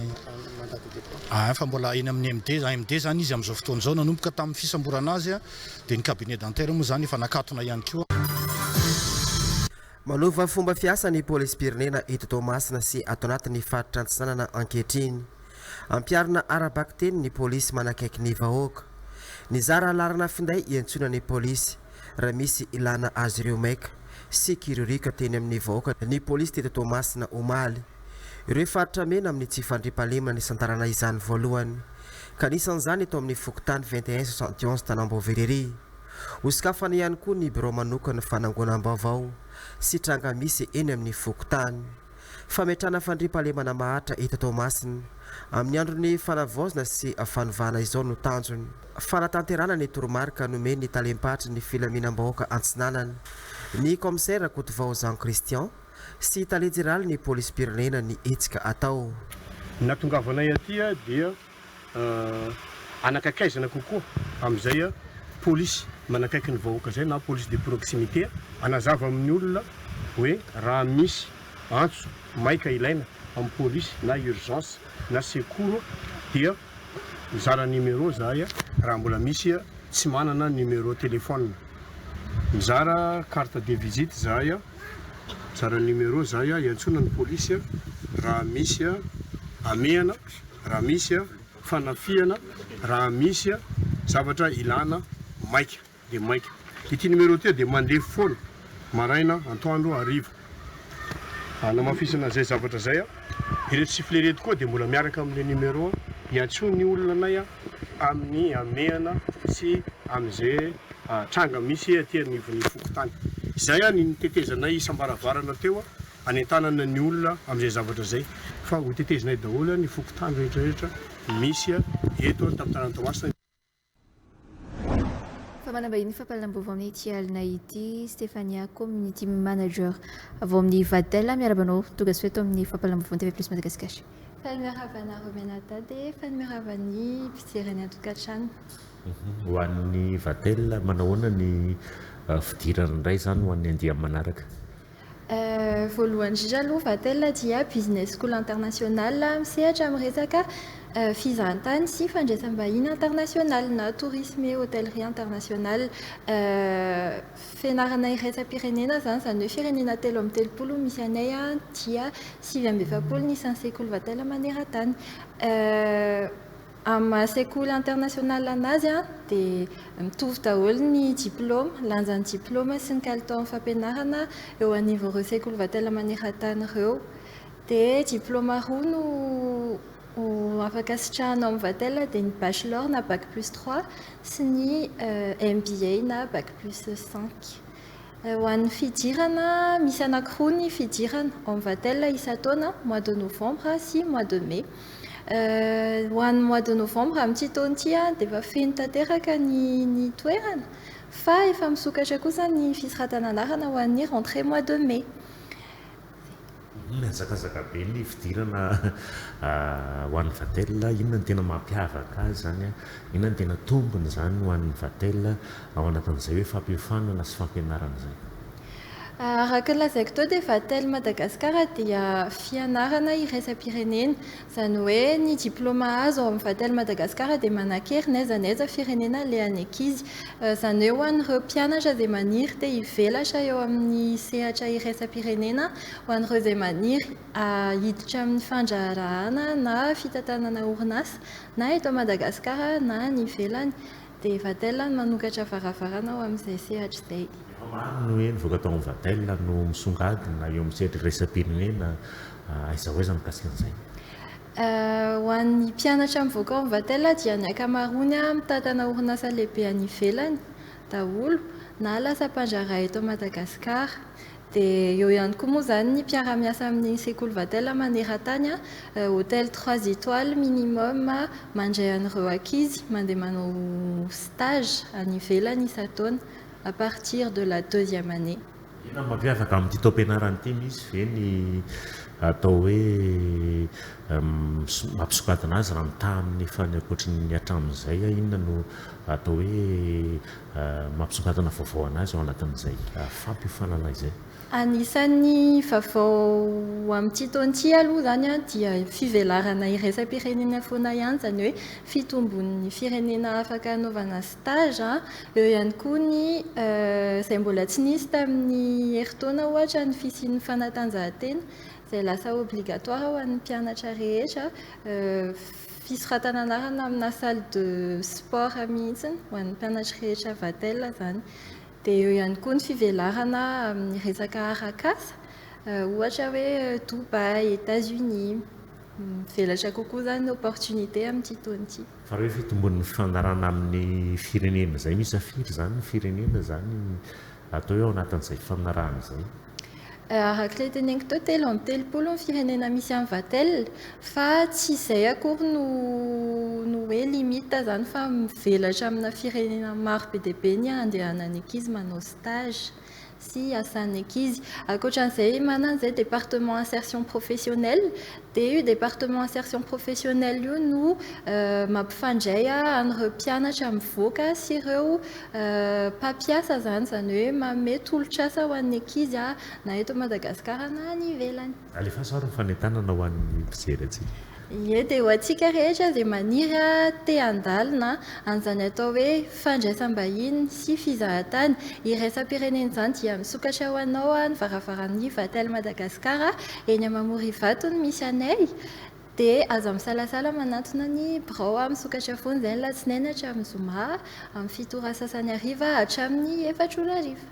Speaker 21: ah, fa mbola eny amin'ny MD, AMD izany izy amin'izao fotoana izao, nanomboka tamin'ny fisamborana azy dia ny cabinet dentaire moa izany efa nakatona ihany koa.
Speaker 22: Manova fomba fiasa ny polisim-pirenena eto Toamasina sy ato anatin'ny faritra Antsinanana ankehitriny. Ampiharina ara-bakiteny ny polisy manakaiky ny vahoaka. Nizara laharana finday hiantsoana ny polisy raha misy ilàna azy ireo maika sy kiririoka teny amin'ny vahoaka ny polisy teto Toamasina omaly. Ireo faritra mena amin'ny tsy fandriampahalemana nisantarana izany voalohany ka anisan'izany eto amin'ny fokontany 2171 Tanambovira ery. Hosokafana ihany koa ny birao manokan'ny fanangonam-baovao sy tranga misy eny amin'ny fokontany. Fametrahana fandriampahalemana maharitra eto Toamasina, amin'ny andron'ny fanavaozana sy fanovana izao no tanjony. Fanatanterahana ny toromarika nomen'ny talem-paritry ny filaminam-bahoaka Antsinanana, ny kaomisera Kotovao Jean Christian sy tale jeneralin'ny polisim-pirenena ny hetsika atao. Nahatongavanay
Speaker 23: aty dia hanakakaizana kokoa amin'izay polisy manakaiky ny vahoaka izay na police de proximité hanazava amin'ny olona hoe raha misy antso maika ilaina amin'ny polisy na urgence na secours dia mizara numéro izahay raha mbola misy tsy manana numéro téléphone mizara carte de visite izahay mizara numéro izahay hiantsoana ny polisy raha misy hamehana raha misy fanafihana, raha misy zavatra ilana maika dia maika. Ity numéro ity dia mandeha foana maraina, antoandro, hariva. Hanamafisana izay zavatra izay. Ireto sifflet ireto koa dia mbola miaraka amin'ilay numéro. Iantsoa ny olona anay amin'ny hamehana sy amin'izay tranga misy aty anivon'ny fokontany. Izay ny tetezanay isam-baravarana teo hanentanana ny olona amin'izay zavatra izay fa ho tetezinay daholo ny fokontany rehetra rehetra misy eto amin'ny tanànan'i Toamasina.
Speaker 2: Fa manambahiny fampahalalam-baovao amin'ny ity alina ity, Stephania, Community Manager avy ao amin'ny Vatel. Miarahaba anao, tongasoa eto amin'ny fampahalalam-baovaon'ny TV Plus Madagascar. Fanimirahava anareo mianadahy dia fanimirahava ny mpijery any an-tokantrano. Ho
Speaker 1: an'ny Vatel, manao ahoana ny fidirana indray izany ho an'ny andiany manaraka?
Speaker 2: Voalohany indrindra aloha Vatel dia Business School International misehatra amin'ny resaka fizahantany sy fandraisam-bahiny internasionaly na Tourisme et Hotellerie Internationale. Fianarana iraisam-pirenena izany, izany hoe firenena telo amby telopolo no misy anay dia sivy amby efapolo ny isan'ny sekoly Vatel maneran-tany. Amin'ny maha sekoly international anazy dia mitovy daholo ny diplaoma, lanjan'ny diplaoma sy ny kalitaon'ny fampianarana eo anivon'ireo sekoly vatela maneran-tany ireo. Dia diplaoma roa no afaka asitrahana ao amin'ny vatela dia ny bachelor na bac plus trois sy ny MBA na bac plus cinq. Ho an'ny fidirana, misy anankiroa ny fidirana ao amin'ny Vatel isan-taona, mois de novembre sy mois de mai.
Speaker 3: Ho an'ny mois de novembre amin'ity taona ity dia efa feno tanteraka ny ny toerana fa efa misokatra kosa ny fisoratana anarana ho an'ny rentrée mois de mai.
Speaker 1: Mihazakazaka be ny fidirana ho an'ny Vatel. Inona no tena mampiavaka azy izany? Inona no tena tombony izany ho an'ny Vatel ao anatin'izay hoe fampiofanana sy fampianarana izay?
Speaker 3: Araka ny lazaiko teo dia Vatel Madagasikara dia fianarana iraisam-pirenena. Izany hoe ny diploma azo ao amin'ny Vatel Madagascar dia manankery n'aiza n'aiza firenena alehan'ny ankizy. Izany hoe ho an'ireo mpianatra izay maniry te hivelatra eo amin'ny sehatra iraisam-pirenena, ho an'ireo izay maniry hiditra amin'ny fandraharahana na fitantanana orinasa na eto Madagascar na any ivelany, Dia Vatel no manokatra varavarana ho amin'izay sehatra izay. Efa maro ny hoe
Speaker 1: nivoaka tao amin'ny Vatel no misongadina eo amin'ny sehatra iraisam-pirenena. Aiza ho aiza mikasika an'izay? Ho
Speaker 3: an'ny mpianatra mivoaka ao amin'ny Vatel dia ny ankamaroany mitantana orinasa lehibe any ivelany daholo na lasa mpandraharaha eto Madagasikara. Dia eo ihany koa moa izany ny mpiara-miasa amin'ny sekoly Vatel maneran-tany, hôtel trois étoiles minimum mandray an'ireo ankizy mandeha manao stage any ivelany isan-taona à partir de la deuxième année. Inona no mampiavaka
Speaker 1: amin'ity taom-pianarana ity? Misy ve ny atao hoe mampisokadina azy raha mitaha amin'ny efa ny ankoatry ny hatramin'izay? Inona no atao hoe. mampisongadina vaovao an'azy ao anatin'izay fampiofanana izay. Anisan'ny
Speaker 3: vaovao amin'ity taona ity aloha izany dia fivelarana iraisam-pirenena foana ihany, izany hoe fitombon'ny firenena afaka hanaovana stage, eo ihany koa ny izay mbola tsy nisy tamin'ny herintaona ohatra ny fisian'ny fanatanjahantena izay lasa obligatoire ho an'ny mpianatra rehetra, Fisoratana anarana amina salle de sport mihitsy ho an'ny mpianatra rehetra Vatel izany. Dia eo ihany koa ny fivelarana amin'ny resaka arak'asa, ohatra hoe Dubaï, États-Unis. Mivelatra kokoa izany ny opportunité amin'ity taona ity. Fa raha hoe fitombon'ny
Speaker 1: fifanarahana amin'ny firenena izay misafidy izany ny firenena izany? atao hoe ao anatin'izay faminarahana izay. Araka
Speaker 3: ilay teneniko teo, telo amby telopolo ny firenena misy an'i Vatel, fa tsy izay akory no no hoe limite izany fa mivelatra amina firenena maro be dia be ny handehanan'ny ankizy manao stage sy hiasan'ny ankizy. Ankoatra an'izay manana an'izay département insertion professionnelle Dia io département insertion professionnelle io no mampifandray an'ireo mpianatra mivoaka sy ireo mpampiasa izany, izany hoe manome tolotr'asa ho an'ny ankizy na eto Madagasikara na any ivelany. Alefaso ary ny fanentanana
Speaker 1: ho an'ny mpijery antsika. Ie, dia ho
Speaker 3: antsika rehetra izay maniry te handalina an'izany atao hoe fandraisam-bahiny sy fizahantany iraisam-pirenena izany dia misokatra ho anao ny varavaran'ny Vatel Madagascar eny Mamorivato no misy anay dia aza misalasala manantona ny birao a misokatra foana izay ny latsinainy hatramin'ny zoma amin'ny fito ora sasany hariva hatramin'ny efatra ora hariva.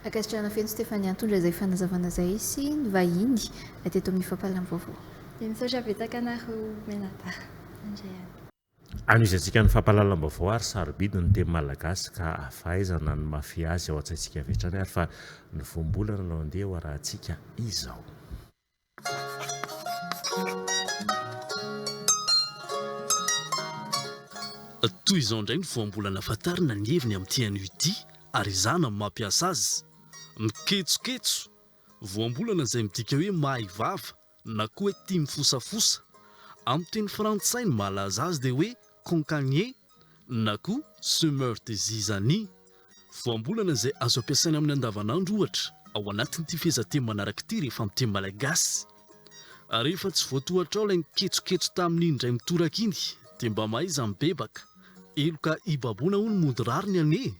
Speaker 3: Ankasitrahana
Speaker 2: feno Stéphane nitondra izay fanazavana izay sy ny vahiny teto amin'ny fampahalalam-baovao. Dia misaotra
Speaker 3: betsaka anareo mianadahy. Mandray any.
Speaker 1: Anohizantsika ny fampahalalam-baovao ary sarobidy ny teny malagasy ka ahafahaizana ny mahafehy azy ao an-tsaintsika avy hatrany ary fa ny voambolana no andeha ho arahantsika izao.
Speaker 6: Toy izao indray ny voambolana Fantarina ny heviny amin'ity anio ity ary ezahana ny mampiasa azy. Miketsoketso. Voambolana izay midika hoe mahay vava. na koa hoe tia mifosafosa. Amin'ny teny frantsay ny mahalaza azy dia hoe concagné na koa semeur de zizanie. Voambolana izay azo ampiasaina amin'ny andavanandro ohatra ao anatin'ity fehezanteny manaraka ity rehefa amin'ny teny malagasy. Ary rehefa tsy voatohatrao ilay niketsoketso tamin'iny indray mitoraka iny dia mba mahaiza mibebaka. Heloka hibaboana hono mody rariny anie e!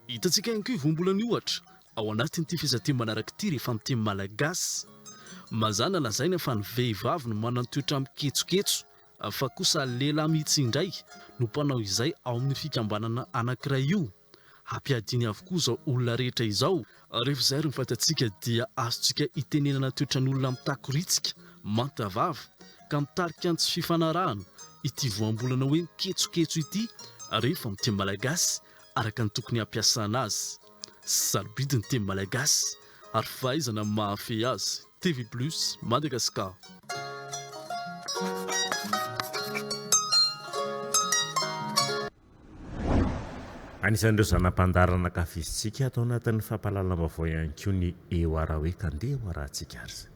Speaker 6: Hitantsika ihany koa io voambolana io ohatra ao anatin'ity fihazateny manaraka ity rehefa amin'ny teny malagasy. Mazàna lazaina fa ny vehivavy no manana toetra miketsoketso fa kosa lehilahy mihitsy indray no mpanao izay ao amin'io fikambanana anankiray io. Hampiadiany avokoa izao olona rehetra izao. Rehefa izay ary no fatantsika dia azontsika itenenana toetran'olona mitakoriantsika manta vava ka mitarika ny tsy fifanarahana ity voambolana hoe miketsoketso ity rehefa amin'ny teny malagasy araka ny tokony hampiasana azy. Sarobidy ny teny malagasy ary fahaizana ny mahafehy azy. TV Plus, Madagascar.
Speaker 1: Anisan'ireo zana-pandaharan'ankafizintsika ato anatin'ny fampahalalam-baovao ihany koa ny Eo Arahoe ka ndeha hoarahantsika ary izay.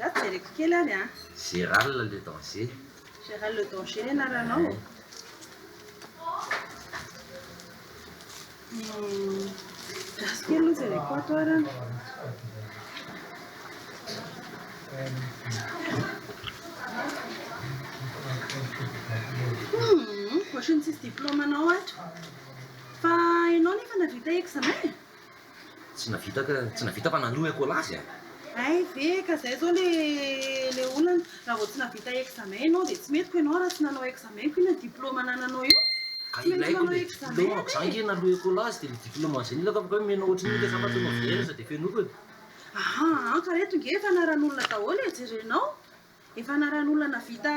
Speaker 24: Ratsy jereko kely ary an! Gérald le
Speaker 25: danger. Gérald le
Speaker 24: danger ny anaranao e. Gasy kely aloha jereko ato ary an. Ohatran'ny tsisy diplôme anao ato. Fa ianao nefa nahavita examen e? Tsy
Speaker 25: navita ka, tsy navita fa nanohy akolazy a! Hay ve ka
Speaker 24: zay zao le le olana, raha vao tsy navita examen enao dia tsy mety ko enao raha tsy nanao examen ko inona diploma anananao eo? Ka ilaiko
Speaker 25: le diploma ko za nge nalohy akolazy dia le diploma zay nilako avy akao omena ohatry ny le sambatra novela za dia fenoiko e! Ahaa ka
Speaker 24: reto nge fanaran'olona daholo e, jerenao. Efa anaran'olona navita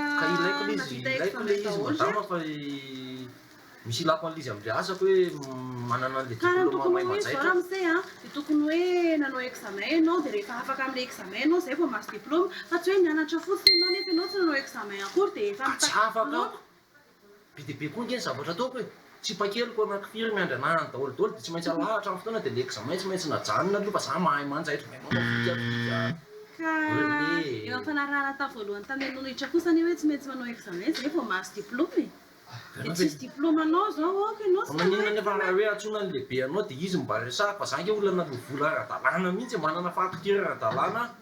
Speaker 24: navita
Speaker 25: ex fantany daholo ry Kara ny tokony ho izy zao ramose a
Speaker 24: dia tokony hoe nanao examen ianao dia rehefa afaka amin'ilay examen ianao izay vao mahazo diploma fa tsy hoe nianatra fotsiny ianao nefa ianao tsy nanao examen akory dia efa mitaky diploma.
Speaker 25: Be dia be koa ange ny zavatra ataoko e! Tsipa-keliko eo anaty firy miandry anahany daholo daholo dia tsy maintsy alahatra amin'ny fotoana dia ny examen tsy maintsy najanona aloha fa za mahay manjaitra dia manao fika fika Ka
Speaker 24: eo amin'ny fanarahana atao voalohany tany Anonitra kosa anie hoe tsy maintsy manao examen izay vao mahazo diploma e! Dia tsisy diploma anao izao ok ianao Fa maninona nefa raha hoe antsoina
Speaker 25: ny lehibe anao dia izy no mba resahako fa za ange olona naloa vola ara-dalàna mihitsy e! Manana faty firy ara-dalàna aho?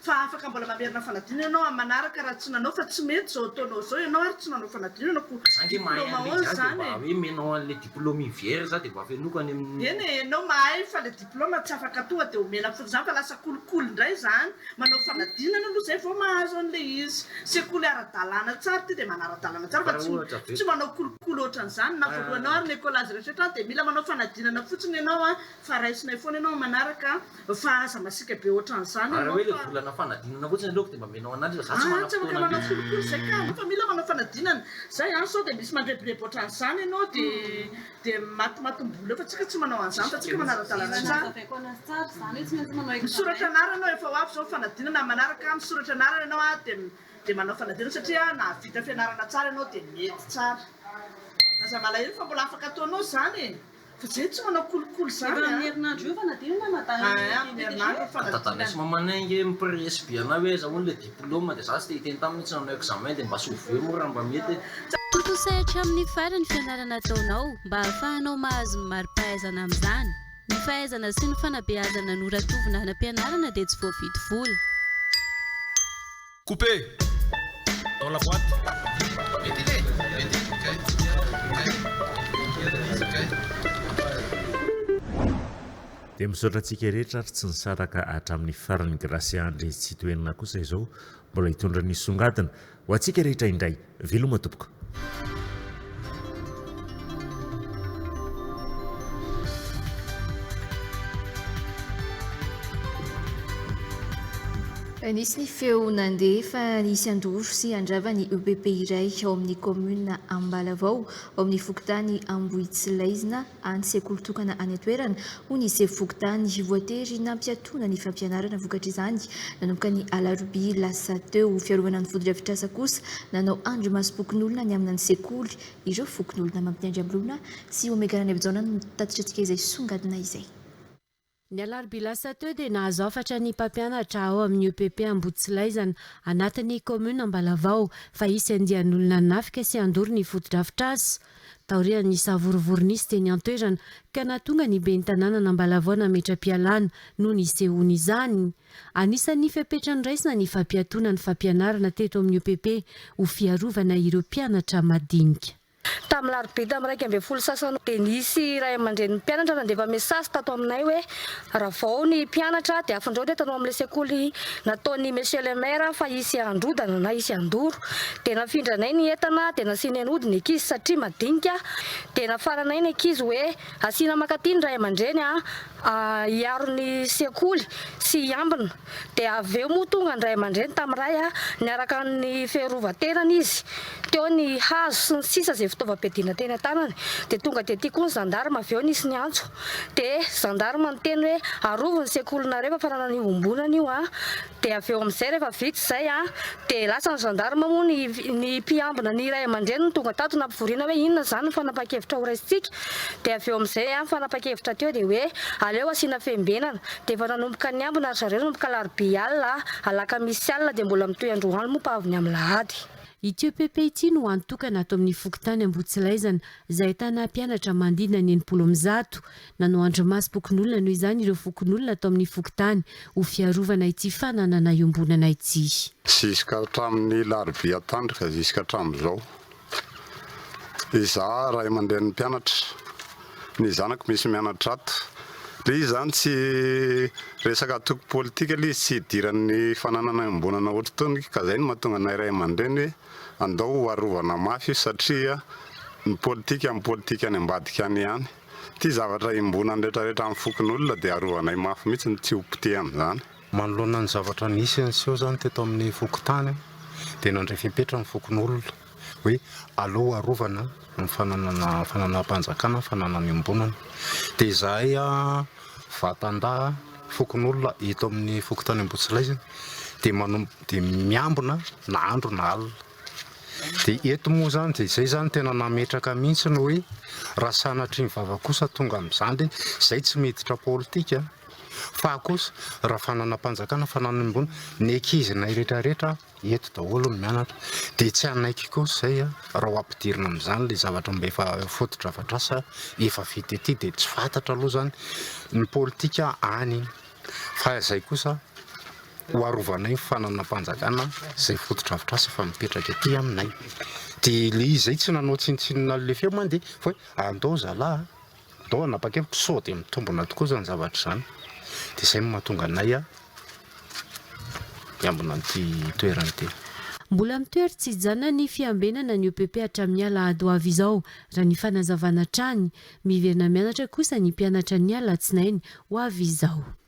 Speaker 24: Fa afaka mbola mamerina fanadinana ianao amin'ny manaraka raha tsy nanao fa tsy mety izao ataonao izao ianao ary tsy nanao fanadinana koa Za nge mahay diploma an'le oz zany e. Za de mba hoe menao an'le
Speaker 25: diploma iny VR za de mba afenoiko any amin'ny. Eny e, enao mahay
Speaker 24: fa le diploma tsy afaka tonga de omena fotsiny zany fa lasa kolikoly ndray zany, manao fanadinana aloha zay vao mahazo an'le izy, sekoly ara-dalàna tsara ty de manara-dalàna tsara fa tsy tsy manao kolikoly ohatran'zany na voalohanao ary ny ecole azy rehetra rehetra de mila manao fanadinana fotsiny enao a, fa raisinay foana enao amin'ny manaraka a. Fa aza masiaka be otran'izany ianao fa. Raha hoe ilay volana fanadinana
Speaker 25: fotsiny aleoko dia mba menao an'andry fa za tsy manam-potoana be. Aah tsy afaka
Speaker 24: manao firy koa izay ka. Fa mila manao fanadinana. Zay an, sao dia misy mandrebireby otran'izany ianao dia matimatim-bola eo fa tsika tsy manao an'izany fa tsika manara-dalana tsara. Misoratra anarana aho efa ho avy izao ny fanadinana amin'ny manaraka an, misoratra anarana ianao an dia manao fanadinana satria nahavita fianarana tsara ianao dia mety tsara. Aza malahelo fa mbola afaka ataonao izany e. Vjy tsy manao kolikoly zany a. Efa amin'ny herinandro io fa na dia io na na dahy io dia amin'ny herinandro ny
Speaker 25: fanadinana. Dadanay sy mamanay ange mi-presy be anay hoe aiza hono ilay diploma dia za tsy te hiteny taminy hoe tsy nanao examen dia mba sovoho eo moa raha mba mety e. Tontosa hatramin'ny
Speaker 4: farany ny fianarana ataonao mba hahafahanao mahazo ny mari-pahaizana amin'izany. Ny fahaizana sy ny fanabeazana noratovina hanam-pianarana dia tsy voavidy vola.
Speaker 26: Couper! Dans la boite!
Speaker 1: Dia misaotra antsika rehetra ary tsy nisaraka hatramin'ny farany Gracia Andry Tsitoherina kosa izao mbola hitondra ny songadina ho antsika rehetra indray. Veloma tompoko.
Speaker 2: Nisy ny feo nandeha fa nisy handoro sy handrava ny EPP iray ao amin'ny kaominina Ambalavao, ao amin'ny fokontany Ambohitsilaizina, any sekoly tokana any an-toerana, hoy ny sefo fokontany. Voatery nampiatoana ny fampianarana vokatr'izany nanomboka ny alarobia lasa teo. Fiarovana ny fotodrafitrasa kosa, nanao andrimasom-pokonolona ny amina ny sekoly, ireo fokonolona Mampinandriambloana sy Omega Ranaivojaona no tatitra antsika izay songadina izay. Ny
Speaker 4: alarobia lasa teo dia nahazo hafatra ny mpampianatra ao amin'ny EPP Ambohitsilaizana, anatin'ny kaominina Ambalavao, fa hisy andian'olona hanafika sy handoro ny fotodrafitrasa. Taorian'ny savorovoro nisy teny an-toerana ka nahatonga ny ben'ny tanànan'Ambalavao nametra-pialana no nisehoan'izany. Anisan'ny fepetra noraisina ny fampiatoana ny fampianarana teto amin'ny EPP ho fiarovana ireo mpianatra madinika. Tamin'ny larobia
Speaker 5: tamin'ny iraika ambin'ny folo sasany dia nisy ray aman-drenin'ny mpianatra nandefa mesazy tato aminay hoe raha vao ny mpianatra dia afindrao ny entana ao amin'ilay sekoly nataon'i Monsieur le Maire fa hisy handrodana na hisy handoro. Dia nafindranay ny entana dia nasianay nody ny ankizy satria madinika dia nafaranay ny ankizy hoe asiana mankaty ny ray aman-dreny an! hiaro ny sekoly sy hiambina dia avy eo moa tonga ny ray aman-dreny tamin'ny ray niaraka amin'ny fiarovan-tenany izy teo ny hazo sy ny sisa izay fitaovam-piadiana teny an-tanany dia tonga dia tia koa ny zandarma avy eo nisy niantso dia zandarma niteny hoe arovy ny sekolinareo fa fananana iohombonana io an Dia avy eo amin'izay rehefa vita izay dia lasa ny gendarme moa ny ny mpiambina ny ray aman-dreniny no tonga tato nampivoriana hoe inona izany ny fanapahan-kevitra ho raisintsika. Dia avy eo amin'izay ny fanapahan-kevitra teo dia hoe aleo asiana fiambenana. Dia efa nanomboka niambina ry zareo nanomboka alarobia alina, alakamisy alina dia mbola mitohy androany moa mpa avy ny amin'ny lahady. Ity epp
Speaker 4: ity no hany tokana ato amin'ny fokontany Ambohitsilaizana izay ahitana mpianatra manodidina ny enimpolo amin'ny zato. Nanoandry masom-pokonolona noho izany ireo fokonolona ato amin'ny fokontany ho fiarovana ity fananana iombonana ity. Ziska
Speaker 8: hatramin'ny larobia tandrika ziska hatramin'izao, izaho ray aman-drenin'ny mpianatra, ny zanako misy mianatra ato. Ilay izy izany tsy resaka antoko politika ilay izy, tsy hidiran'ny fananana iombonana ohatr'itony ka izay no mahatonga anay ray aman-dreny hoe andao ho arovana mafy io satria ny politika amin'ny politika any ambadika any ihany. Ity zavatra iombonan'ny retraretra amin'ny fokonolona dia arovanay mafy mihitsy ny tsy ho poteha amin'izany. Manoloana ny
Speaker 10: zavatra nisy niseho izany teto amin'ny fokontany dia nandray fepetra ny fokonolona hoe aleo arovana ny fananana fananam-panjakana, fananana iombonana. Dia izahay vatan-dahy fokonolona eto amin'ny fokontany Ambohitsilaizina dia miambina na andro na alina. Dia eto moa izany dia izay izany tena nametraka mihitsy ny hoe raha sanatria ny vava kosa tonga amin'izany dia izay tsy miditra politika fa kosa raha fananam-panjakana, fananam-bola, ny ankizinay rehetrarehetra eto daholo no mianatra dia tsy hanaiky kosa izay raha ho ampidirina amin'izany ilay zavatra mba efa fotodrafitrasa efa vita ety dia tsy fantatra aloha izany ny politika any fa izay kosa ho arovanay ny fananam-panjakana izay fotodrafitrasa efa mipetraka ety aminay, dia le izy zay tsy nanao tsinontsinona le feo mandeha fa hoe andao zalah a, andao hanapa-kevitra sao dia mitombina tokoa izany zavatra izany, dia izay no mahatonga anay hiambina an'ity toerana ity. Mbola mitoery
Speaker 4: tsy hijanona ny fiambenana ny OPP hatramin'ny alahady ho avy izao, raha ny fanazavana hatrany. Miverina mianatra kosa ny mpianatra ny alatsinainy ho avy izao.